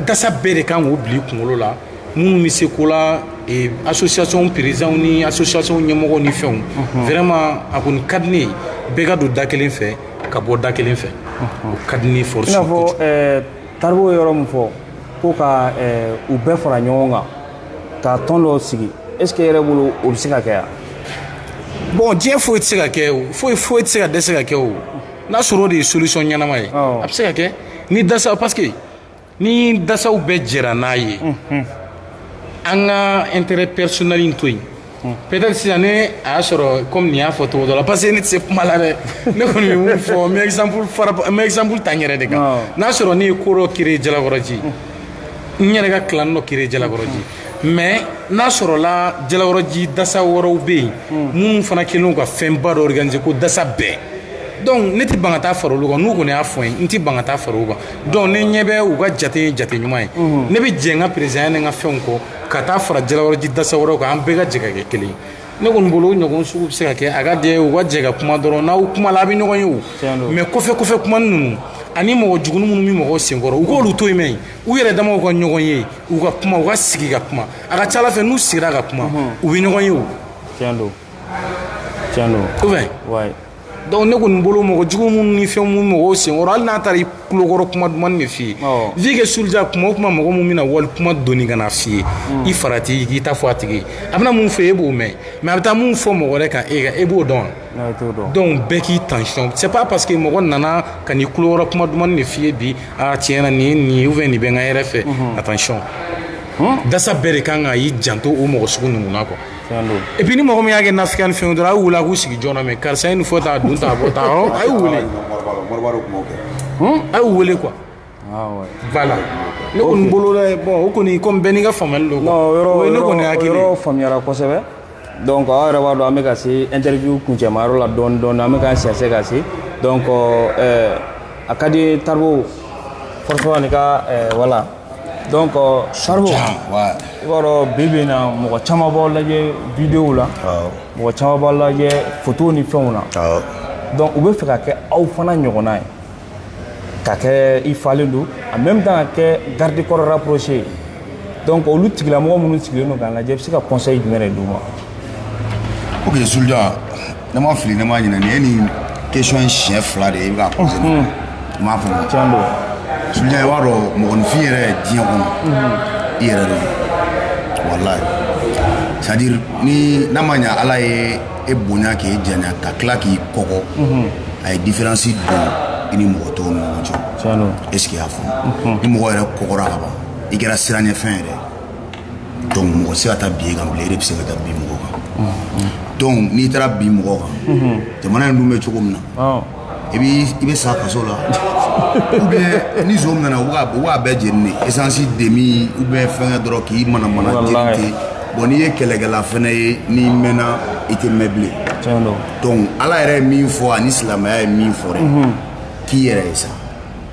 dasa bɛɛ de kan k'o bila i kunkolo la minnu bɛ se ko la eh, association présidentw ni association ɲɛmɔgɔw ni fɛnw vraiment a kɔni ka di ne ye bɛɛ ka don da kelen fɛ ka bɔ da kelen fɛ o ka di ne force i n'a fɔ eh, taribo ye yɔrɔ min fɔ ko ka eh, u bɛɛ fara ɲɔgɔn kan ka tɔn dɔ sigi est ce que yɛrɛ bolo o bɛ se ka kɛ yan bon diɲɛ foyi tɛ se ka kɛ o foyi foyi tɛ se ka dɛsɛ ka kɛ o n'a sɔrɔ o de ye solution ɲɛnama ye a bɛ se ka kɛ ni dasaw parce que ni dasaw bɛɛ jɛra n'a ye an ka intérêt personnel in to yen peut-être sisan ni a y'a sɔrɔ comme nin y'a fɔ cogo dɔ la parce que ne tɛ se kuma la dɛ ne kɔni bɛ mun fɔ n bɛ exemple fara n bɛ exemple ta n yɛrɛ de kan n'a sɔrɔ ne ye ko dɔ créer Jalakɔrɔji n yɛrɛ ka clan dɔ créer Jalakɔrɔji mais n'a sɔrɔla jalakɔrɔji dasa wɛrɛw bɛ yen hmm. minnu fana kelen ka fɛnba dɔ organiser ko dasa bɛɛ donc ne tɛ ban ka taa fara olu kan n'u kɔni y'a fɔ n ye n tɛ ban ka taa fara u kan donc ne ɲɛ bɛ u ka jate ye jate ɲuman ye hmm. ne bɛ jɛ n ka présidentya ni n ka fɛnw kɔ ka taa fara jalakɔrɔji dasa wɛrɛw kan an bɛɛ ka jɛ ka kɛ kelen ye ne kɔni bolo o ɲɔgɔn sugu bɛ se ka kɛ a ka di u ka jɛ ka kuma dɔrɔn n'aw kuma la a bɛ ɲɔgɔn ye o mais kɔfɛ kɔfɛ kuma ninnu ani mɔgɔ jugunin minnu bɛ mɔgɔw senkɔrɔ u k'olu to yen mɛ u yɛrɛ damaw ka ɲɔgɔn ye u ka kuma u ka sigi ka kuma a ka ca ala fɛ n'u sigira ka kuma u bɛ ɲɔgɔn ye o tiɲɛ don tiɲɛ don ko fɛ wayi donc ne kɔni bolo mɔgɔ jugu minnu ni fɛn minnu mɔgɔw senkɔrɔ hali n'a taara i kulokɔrɔ kuma duman de f'i ye vu que sulja kuma o kuma mɔgɔ min bɛna wali kuma doni ka na f'i ye i farati i k'i ta fɔ a tigi ye a bɛna mun fɔ e b'o mɛn mais a bɛ taa mun fɔ mɔgɔ wɛrɛ kan e kan e b'o dɔn wa donc bɛɛ k'i tension c'est pas parce que mɔgɔ nana ka n'i kulokɔrɔ kuma duman de f'i ye bi a tiɲɛna ni nin fɛ nin bɛ n ka hɛrɛ fɛ attention dans ça bɛɛ de kan ka y'i janto o mɔgɔ sugu ninnu na quoi et puis ni mɔgɔ min y'a kɛ nafigiya ni fɛn dɔrɔn a y'u wele a k'u sigi ɲɔgɔn na mais karisa ye nin fɔ ta dun ta bɔ taa a y'u wele a y'u wele quoi Voilà ne kɔni bolo bon o kɔni comme bɛɛ n'i ka faamuyali don quoi ne kɔni yɔrɔ faamuyara kosɛbɛ donc aw yɛrɛ b'a dɔn an bɛ ka se interview kuncɛmayɔrɔ la dɔɔni dɔɔni an bɛ k'an sɛnsɛn ka se donc a ka di taribo forcément ni ka voilà donc taribo i b'a dɔn bi bi in na mɔgɔ caman b'aw lajɛ vidéo la mɔgɔ caman b'aw lajɛ photo ni fɛnw na donc u bɛ fɛ ka kɛ aw fana ɲɔgɔnna ye ka kɛ i falen don en même temps ka kɛ garde corps rapproché ye donc olu tigilamɔgɔ minnu sigilen don k'an lajɛ i bɛ se ka conseil jumɛn de d'u ma ok sulja ne ma fili ne ma ɲinɛ nin ye nin question in siɲɛ fila de ye i bɛ ka poser ne i m'a faamu tiɲɛ don sulja i b'a dɔn mɔgɔninfin yɛrɛ diɲɛ kɔnɔ i yɛrɛ de don walayi c'est à dire ni n'a ma ɲɛ ala ye e bonya k'e janya ka tila k'i kɔgɔ a ye différence don i ni mɔgɔ tɔw ni ɲɔgɔn cɛ est ce que i y'a faamu ni mɔgɔ yɛrɛ kɔgɔra ka ban i kɛra siranɲɛfɛn yɛrɛ donc mɔgɔ se ka taa bin e kan bilen e de bɛ se ka taa bin mɔgɔ kan donc n'i taara bin mɔgɔ kan jamana in dun bɛ cogo min na i bɛ i bɛ sa kaso la ou bien ni zon mɛnna u b'a bɛɛ jeni de essence demi ou bien fɛngɛ dɔrɔn k'i mana mana jeni ten bon n'i ye kɛlɛkɛla fɛnɛ ye n'i mɛnna i tɛ mɛn bilen donc ala yɛrɛ ye min fɔ ani silamɛya ye min fɔ dɛ k'i yɛrɛ ye sa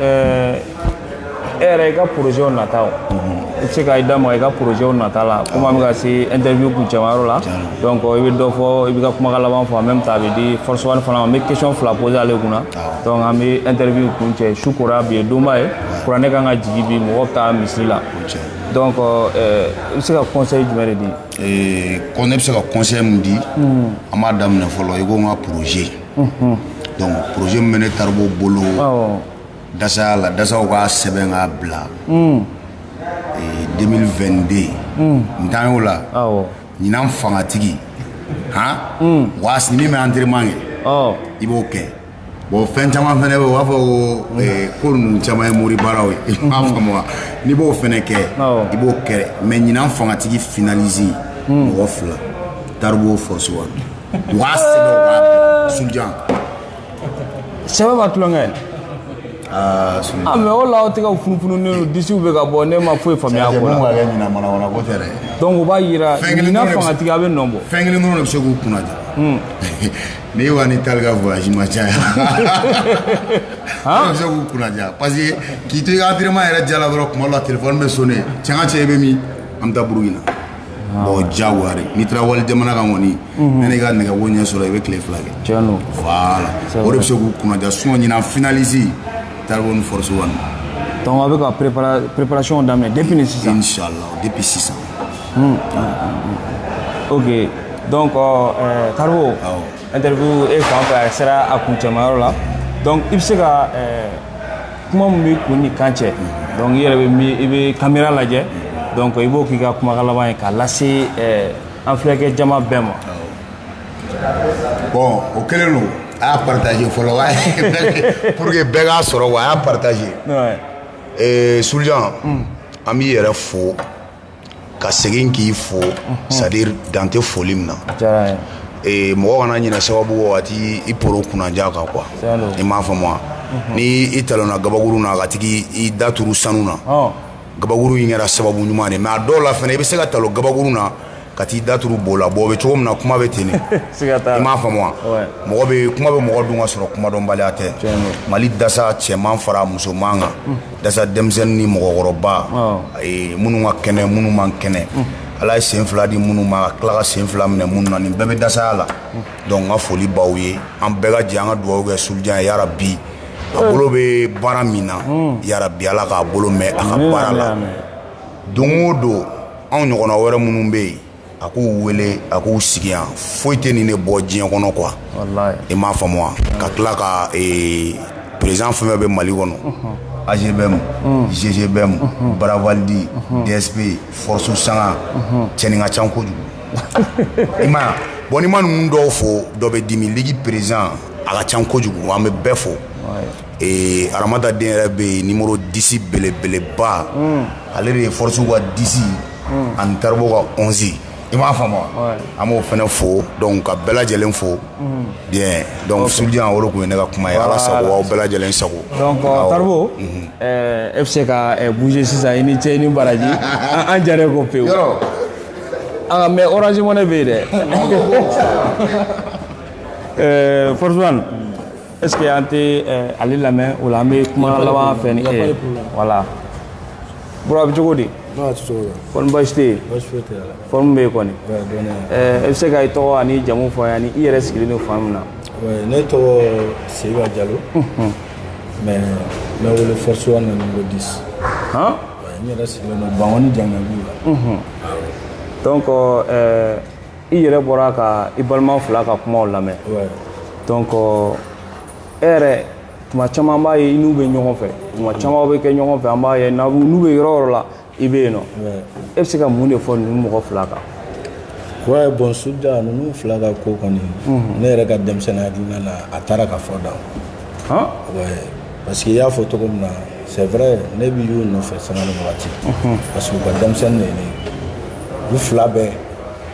Ɛɛ e yɛrɛ i ka projet nataw i bɛ se ka i da maga i ka projet nata la komi an bɛ ka se interview kuncɛmayɔrɔ la donc i bɛ dɔ fɔ i b'i ka kumakan laban fɔ en même temps a bɛ di force one fana ma n bɛ question fila poser ale kunna donc an bɛ interview kuncɛ su kora bi ye donba ye kuranɛ kan ka jigin bi mɔgɔ bɛ taa misiri la donc ɛɛ i bɛ se ka conseil jumɛn de di ee ko ne bɛ se ka conseil min di an b'a daminɛ fɔlɔ i ko n ka projet donc projet min bɛ ne taribo bolo dasaya la dasaw ka sɛbɛn k'a bila 2022 n tan y'o la ɲinan fangatigi han wa a sini min bɛ entraînement kɛ i b'o kɛ bon fɛn caman fɛnɛ bɛ u b'a fɔ ko ko ninnu caman ye mori baaraw ye i m'a faamu wa n'i b'o fɛnɛ kɛ i b'o kɛ mais ɲinan fangatigi finaliste mɔgɔ fila taribo force one u k'a sɛbɛn u k'a bila sulujan sɛbɛ b'a tulonkɛ aa sulujan mais o la aw tɛ ka funufununen don disiw bɛ ka bɔ ne ma foyi faamuya a ko mun la ka kɛ ɲinan manawana ko tɛ dɛ donc o b'a yira Fɛn kelen ɲinan dɔrɔn de bɛ se- fangatigi a bɛ nɔ bɔ fɛn kelen dɔrɔn de bɛ se k'u kunna ja n'i wa ni taali ka voyage ma caya dɔrɔn bɛ se k'u kunna ja parce que k'i to i ka entraînement yɛrɛ diya la dɔrɔn kuma dɔ la téléphone bɛ sonner cɛ n ka cɛ i bɛ min an bɛ taa burukina Bon jawa n'i taara wali jamana ka kɔniɔni ne ka nɛgɛ wo ɲɛ sɔrɔ i bɛ tile fila kɛ o de bɛ se k'u kunnaja s ɲin finaliz ta ni foroso dɔnku a bɛ ka ppɛracɔn daminɛ de sisan de bɛ sisan o dɔn tariku an teri e fan fɛ a sera a kun cɛyɔrɔ la i bɛ se ka kuma min b'i kun ni kan cɛ donc i yɛrɛ bɛ mi i bɛ kamera lajɛ donc i b'o k'i ka kumakan laban ye k'a lase ɛɛ an filɛkɛ jama bɛɛ ma. bon o kɛlen don a y'a partage fɔlɔ wa pour que bɛɛ k'a sɔrɔ wa a y'a partage. ɛɛ sulujan an b'i yɛrɛ fo. ka segin k'i fo c'est-à-dire dan tɛ foli min na mɔgɔ kana ɲinɛ sababu waati i poro kunnaja kan quoi i m'a faamu wa ni i talonna kababakuru na ka taga i da turu sanu na kababakuru in kɛra sababu ɲuman ye mais a dɔw la fɛnɛ i bɛ se ka talon kababakuru na ka t'i da turu bo la bon o bɛ cogo min na kuma bɛ ten i m'a faamu wa kuma bɛ mɔgɔ dun ka sɔrɔ kumadɔnbaliya tɛ mali dasa cɛman fara musoman kan dasa denmisɛnnin ni mɔgɔkɔrɔba minnu ka kɛnɛ minnu man kɛnɛ ala ye sen fila di minnu ma ka tila ka sen fila minɛ minnu na nin bɛɛ bɛ dasaya la donc n ka foli b'aw ye an bɛɛ ka jɛ an ka dugawu kɛ sulujan ye yarabi a bolo bɛ baara min na yarabi ala k'a bolo mɛɛn a ka baara la don o don anw ɲɔgɔnna wɛrɛ minnu bɛ yen a k'u wele a k'u sigi yan foyi tɛ nin ne bɔ diɲɛ kɔnɔ quoi i m'a faamu wa ka tila ka eh, président fɛn fɛn bɛ mali kɔnɔ AGBM GGBM baravalidi dsp force sanga cɛnin ka ca kojugu i m'a ye bon n'i ma ninnu dɔw fo dɔ bɛ dimi ligue président a ka ca kojugu an bɛ bɛɛ fo ee aramata den yɛrɛ bɛ yen numéro dix belebeleba hmm. ale de ye force ka dix hmm. ani taribo ka onze i m'a faamu wa an b'o fana fo donc ka bɛɛ lajɛlen fo hmm. bien donc soja o de tun ye ne ka kuma ye ala sago aw bɛɛ lajɛlen sago donc euh, taribo mhm. euh, e bɛ se ka euh, bouger sisan i ni cɛ i ni baraji an jara ko pewu ah mais orange money bɛ yen dɛ force one est ce que an tɛ eh, ale lamɛn o la an bɛ kuma laban fɛ ni e voilà bro a bɛ cogo di kɔni baasi tɛ yen forme bɛ yen kɔni e bɛ se ka i tɔgɔ ani jamu fɔ ani i yɛrɛ sigilen don fan min na ne tɔgɔ seyiba jalo mais n bɛ wele force one numéro dix n yɛrɛ sigilen don bankoni jangabu la donc i yɛrɛ bɔra ka i balima fila ka kumaw lamɛn donc e yɛrɛ tuma caman an b'a ye i n'u bɛ ɲɔgɔn fɛ tuma caman aw bɛ kɛ ɲɔgɔn fɛ an b'a ye n'u bɛ yɔrɔ o yɔrɔ la i bɛ yen nɔ e bɛ se ka mun de fɔ ninnu mɔgɔ fila kan ouais bon soja ninnu fila ka ko kɔni ne yɛrɛ ka denmisɛnninya hakilina na a taara ka fɔ dan han ouais parce que i y'a fɔ cogo min na c'est vrai ne bɛ u nɔfɛ sanga ni wagati parce que u ka denmisɛnnin de ye ne u fila bɛɛ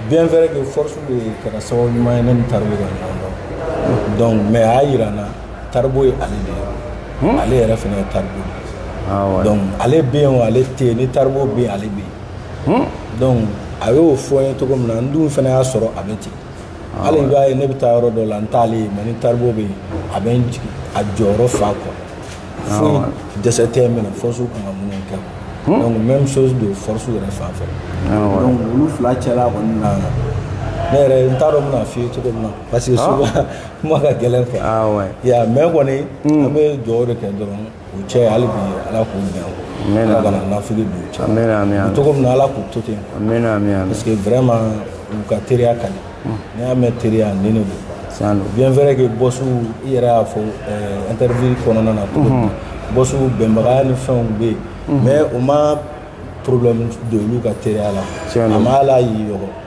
bien vrai que force de kɛra sababu ɲuman ye ne ni taribo ka ɲɔgɔn dɔn donc mais a y'a yira n na taribo ye ale de ye ale yɛrɛ fana ye taribo de ye donc ale bɛ yen o ale tɛ yen ni taribo bɛ yen ale bɛ yen donc a y'o fɔ n ye cogo min na n dun fana y'a sɔrɔ a bɛ ten hali i b'a ye ne bɛ taa yɔrɔ dɔ la n t'ale ye mais ni taribo bɛ yen a bɛ n jigi a jɔyɔrɔ fa quoi foyi dɛsɛ tɛ min na force kan ka minnu kɛ hmm? donc même chose don force yɛrɛ fan fɛ donc olu fila cɛla kɔni na ne yɛrɛ n t'a dɔn n bɛna f'i ye cogo min na parce que ah. souvent kuma ka gɛlɛn quoi ah, ya mais kɔni hmm. an bɛ dugawu de kɛ dɔrɔn u cɛ hali bi ala k'u bɛn Amen. ala kana naafigi don u cɛ Amen, amen, amen. cogo min na ala k'u to ten Amen, amen, amen. parce que vraiment u ka teriya ka di n'i y'a mɛn teriya nin de don Tiɲɛ don. bien vrai que boss i yɛrɛ y'a fɔ eh, interview kɔnɔna na cogo min na bossw bɛnbaliya ni fɛnw bɛ yen mais o ma problème don olu ka teriya la Tiɲɛ don. a ma ala y'i yɔgɔ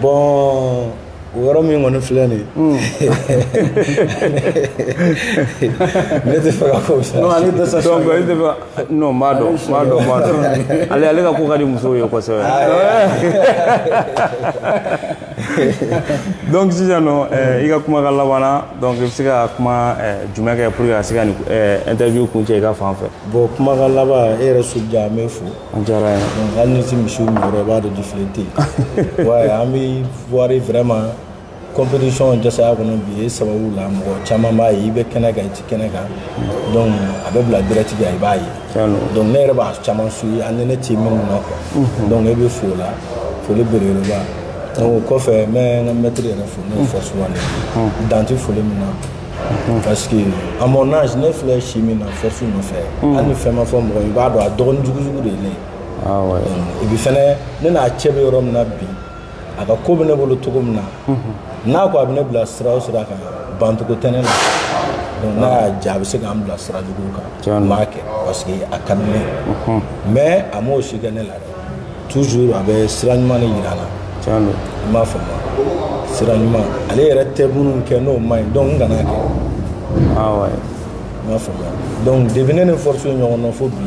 bon o yɔrɔ min kɔni filɛ nin hmm. ne t'a fɛ k'a fɔ sa non ale tɛ sa donc ale tɛ fɛ non n b'a dɔn n b'a dɔn n b'a dɔn ale ale ka ko ka di musow ye kosɛbɛ ah, donc sisan nɔ eh, i ka kuma ka laban na donc i bɛ se ka kuma eh, jumɛn kɛ pour que ka se ka nin eh, interview kuncɛ i ka fan fɛ bon kuma ka laban e yɛrɛ soja n b'i fo An diyara ye donc hali ni tɛ misiw min yɔrɔ i b'a dɔn défilé tɛ yen ouais an bɛ voir vraiment compétition jasaya kɔnɔ bi e sababu la mɔgɔ caman b'a ye i bɛ kɛnɛ kan i tɛ kɛnɛ kan donc a bɛ bila direct kan i b'a ye donc ne yɛrɛ b'a caman suivi hali ni ne tɛ minnu na quoi donc e bɛ fo o la foli belebeleba donc o kɔfɛ n bɛ n ka maître yɛrɛ fo n'o ye Force One ye dan tɛ foli min na Mhm. parce que à mon âge ne filɛ si min na Force nɔfɛ mhm. hali ni fɛn ma fɔ mɔgɔ i b'a dɔn a dɔgɔnin jugujugu de ye ne ah ye et puis fɛnɛ ne n'a cɛ bɛ yɔrɔ min na bi a ka ko bɛ ne bolo cogo min na mhm. n'a ko a bɛ ne bila sira o sira kan bancogo tɛ ne la donc n'a y'a diya a bɛ se k'an bila sira jugu kan n b'a kɛ parce que a ka di ne ye mais a m'o si kɛ ne la dɛ toujours a bɛ sira ɲuman de yira n na tiɲɛ don i m'a faamu sira ɲuman ale yɛrɛ tɛ minnu kɛ n'o man ɲi donc n kana kɛ awɔ ah i m'a faamu donc depuis ne ni Force ye ɲɔgɔn na fo bi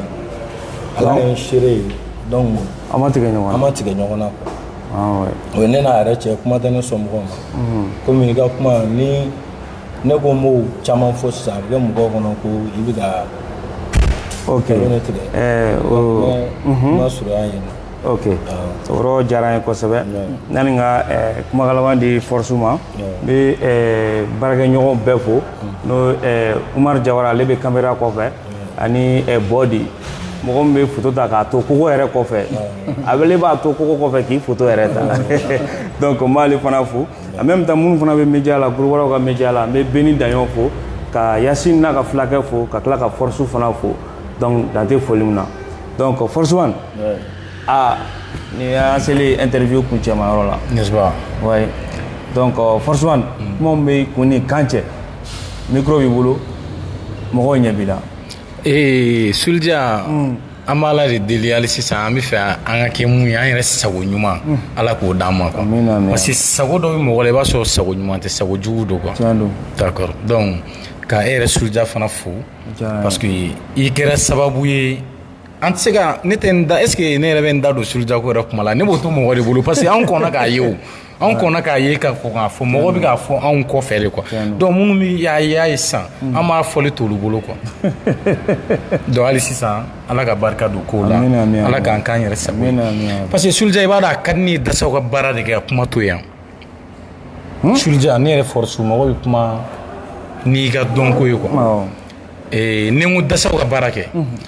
ala ye n seere ye donc an ma tigɛ ɲɔgɔn na an ma tigɛ ɲɔgɔn na quoi ah o ye ne n'a yɛrɛ cɛ kuma tɛ ne somɔgɔw ma komi i ka kuma ni ne ko n b'o caman fɔ sisan a bɛ kɛ mɔgɔw kɔnɔ ko i bɛ ka ok ne tigɛ ɛɛ o n ma surunya yen ok o yɔrɔ diyara an ye kosɛbɛ yani ka ɛɛ kumakan laban di Force ma n bɛ ɛɛ baarakɛɲɔgɔn bɛɛ fo n'o ɛɛ Umar Jawara ale bɛ kamera kɔfɛ ani ɛɛ Bɔdi mɔgɔ min bɛ foto ta k'a to kogo yɛrɛ kɔfɛ ale b'a to kogo kɔfɛ k'i foto yɛrɛ ta donc n b'ale fana fo en même temps minnu fana bɛ média la groupe wɛrɛw ka média la n bɛ Beni Daɲɔn fo ka Yasine n'a ka fulakɛ fo ka tila ka Force fana fo donc dan tɛ foli min na donc Force One aa nin y'an seli interview kuncɛma yɔrɔ la ouais donc Force One mm. kuma b'i kun ni kan cɛ micro b'i bolo mɔgɔw ɲɛ b'i la ee Sulija mm. an b'ala de deli hali sisan an bɛ fɛ an ka kɛ mun ye an yɛrɛ sago ɲuman hmm. ala k'o d'an ma quoi parce que sago dɔ bɛ mɔgɔ la i b'a sɔrɔ sago ɲuman tɛ sago jugu don quoi d'accord donc ka e yɛrɛ Sulija fana fo parce que i kɛra sababu ye an tɛ se ka ne tɛ n da est ce que ne yɛrɛ bɛ n da don Sulija ko yɛrɛ kuma la ne b'o to mɔgɔ de bolo parce que an kɔnna k'a ye o anw kɔnna k'a ye ka kɔn k'a fɔ mɔgɔ bɛ k'a fɔ anw kɔfɛ de quoi donc minnu bɛ y'a y'a ye sisan mm. an b'a fɔli t'olu bolo quoi donc hali sisan ala ka barika don kow la ala k'an k'an yɛrɛ sago ye parce que Sulija i b'a dɔn a ka di ne ye dasaw ka baara de kɛ ka kuma to yan hmm? Sulija ne yɛrɛ Force mɔgɔ bɛ kuma n'i ka dɔnko ye quoi ni n ko dasaw ka baara kɛ.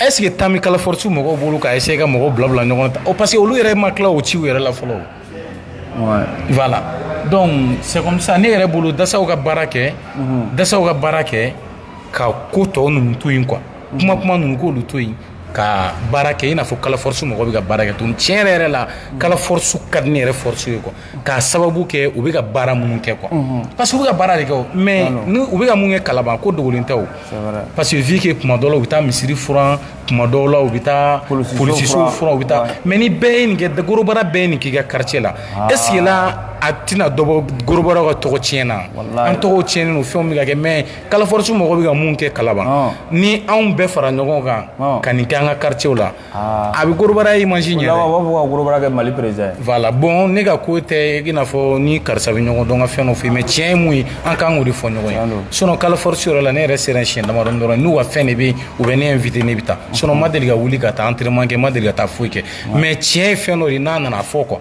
est ce que temps bɛ kala force mɔgɔw bolo ka essayer ka mɔgɔw bila bila ɲɔgɔn na parce que olu yɛrɛ ma tila o ciw yɛrɛ la fɔlɔ voilà donc c'est comme ça ne yɛrɛ bolo dasaw ka baara kɛ mhm. dasaw ka baara kɛ ka ko tɔ ninnu to yen quoi mhm. kuma kuma ninnu k'olu to yen ka baara kɛ i n'a fɔ kala force mɔgɔw bɛ ka baara kɛ tuguni tiɲɛ yɛrɛ yɛrɛ la kala force ka di ne yɛrɛ force ye quoi k'a sababu kɛ u bɛ ka baara minnu kɛ quoi parce que u bɛ ka baara de kɛ mais u bɛ ka mun kɛ Kalaban ko dogolen tɛ parce que vu que kuma dɔw la u bɛ taa misiri furan kuma dɔw la u bɛ taa polisiw u bɛ taa mais ni bɛɛ ye nin kɛ gorobara bɛɛ ye nin k'i ka quartier la est ce que là a tɛna dɔ bɔ gorobara ka tɔgɔ tiɲɛ na an tɔgɔ tiɲɛ fɛn bɛ kɛ mais kala force mɔgɔ bɛ ka mun kɛ Kalaban ni anw bɛɛ fara ɲɔgɔn kan ka nin kɛ an ka quartier la Ah. a bɛ gorobara image ɲɛ u b'a fɔ ka gorobara kɛ Mali président ye voilà bon ne ka ko tɛ i n'a fɔ ni karisa bɛ ɲɔgɔn dɔn ka fɛn dɔ fɔ mais tiɲɛ ye mun ye an kan k'o de fɔ ɲɔgɔn ye sinon kala force yɔrɔ la ne yɛrɛ sera siɲɛ damadɔni dɔrɔn n'u ka fɛn de bɛ yen u bɛ ne invité ne bɛ taa sinon ma deli ka wuli ka taa entraînement kɛ ma deli ka taa foyi kɛ mais tiɲɛ ye fɛn dɔ de n'a nana fɔ quoi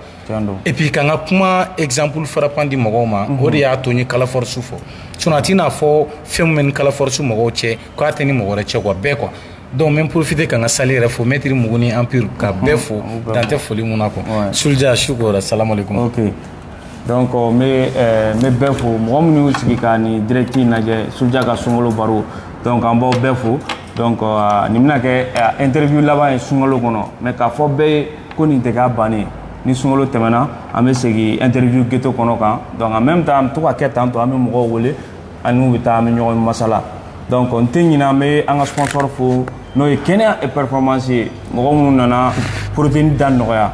et puis ka n ka kuma exemple frappant di mɔgɔw ma o de y'a to n ye kala force fɔ sinon a t'i n'a fɔ fɛn min bɛ ni kala force mɔgɔw cɛ k'a tɛ ni mɔgɔ wɛrɛ cɛ quoi bɛɛ quoi Donc n bɛ n profiter ka n ka salle yɛrɛ fo maitre Mugu ni Empire ka bɛɛ fo dan tɛ foli min na quoi Sulja shukran salamu aleyikumu. Ok donc n bɛ n bɛ bɛɛ fo mɔgɔ minnu y'u sigi ka nin direct in lajɛ Sulja ka sunkalo baro donc an b'aw bɛɛ fo donc nin bɛna kɛ interview laban ye sunkalo kɔnɔ mais k'a fɔ bɛɛ ye ko nin tɛ k'a bannen ye ni sunkalo tɛmɛna an bɛ segin interview ghetto kɔnɔ kan donc en même temps an bɛ to ka kɛ tantôt an bɛ mɔgɔw wele. an n'u bɛ taa an bɛ ɲɔgɔn masala donc n tɛ ɲinɛ an bɛ an ka sponsor fo n'o ye kɛnɛya et performance ye mɔgɔ minnu nana protéine da nɔgɔya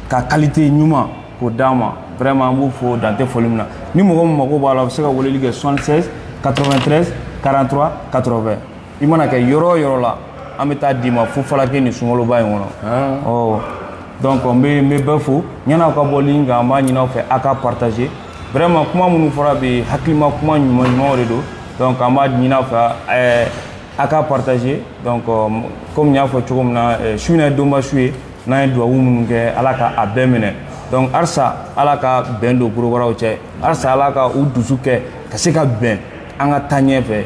ka qualité ɲuman k'o d'an ma vraiment an b'u fo dan tɛ foli min na ni mɔgɔ min mago b'a la a bɛ se ka weleli kɛ 76 93 43 80 i mana kɛ yɔrɔ o yɔrɔ la an bɛ taa d'i ma fu falaki nin sunkaloba in kɔnɔ ɔ donc n bɛ n bɛ bɛɛ fo yan'aw ka bɔ ligne kan an b'a ɲini aw fɛ aw ka partager vraiment kuma minnu fɔra bi hakilima kuma ɲuman ɲumanw de don donc an b'a ɲini aw fɛ ɛɛ a ka partager donc euh, comme n y'a fɔ cogo min na euh, su in na ye donba su ye n'an ye duwawu minnu kɛ ala ka a bɛɛ minɛ donc halisa ala ka bɛn don gorobaraw cɛ halisa ala ka u dusu kɛ ka se ka bɛn an ka taa ɲɛ fɛ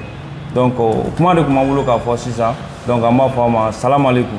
donc euh, kuma de tun b'an bolo k'a fɔ sisan donc an b'a fɔ a ma salamaleykum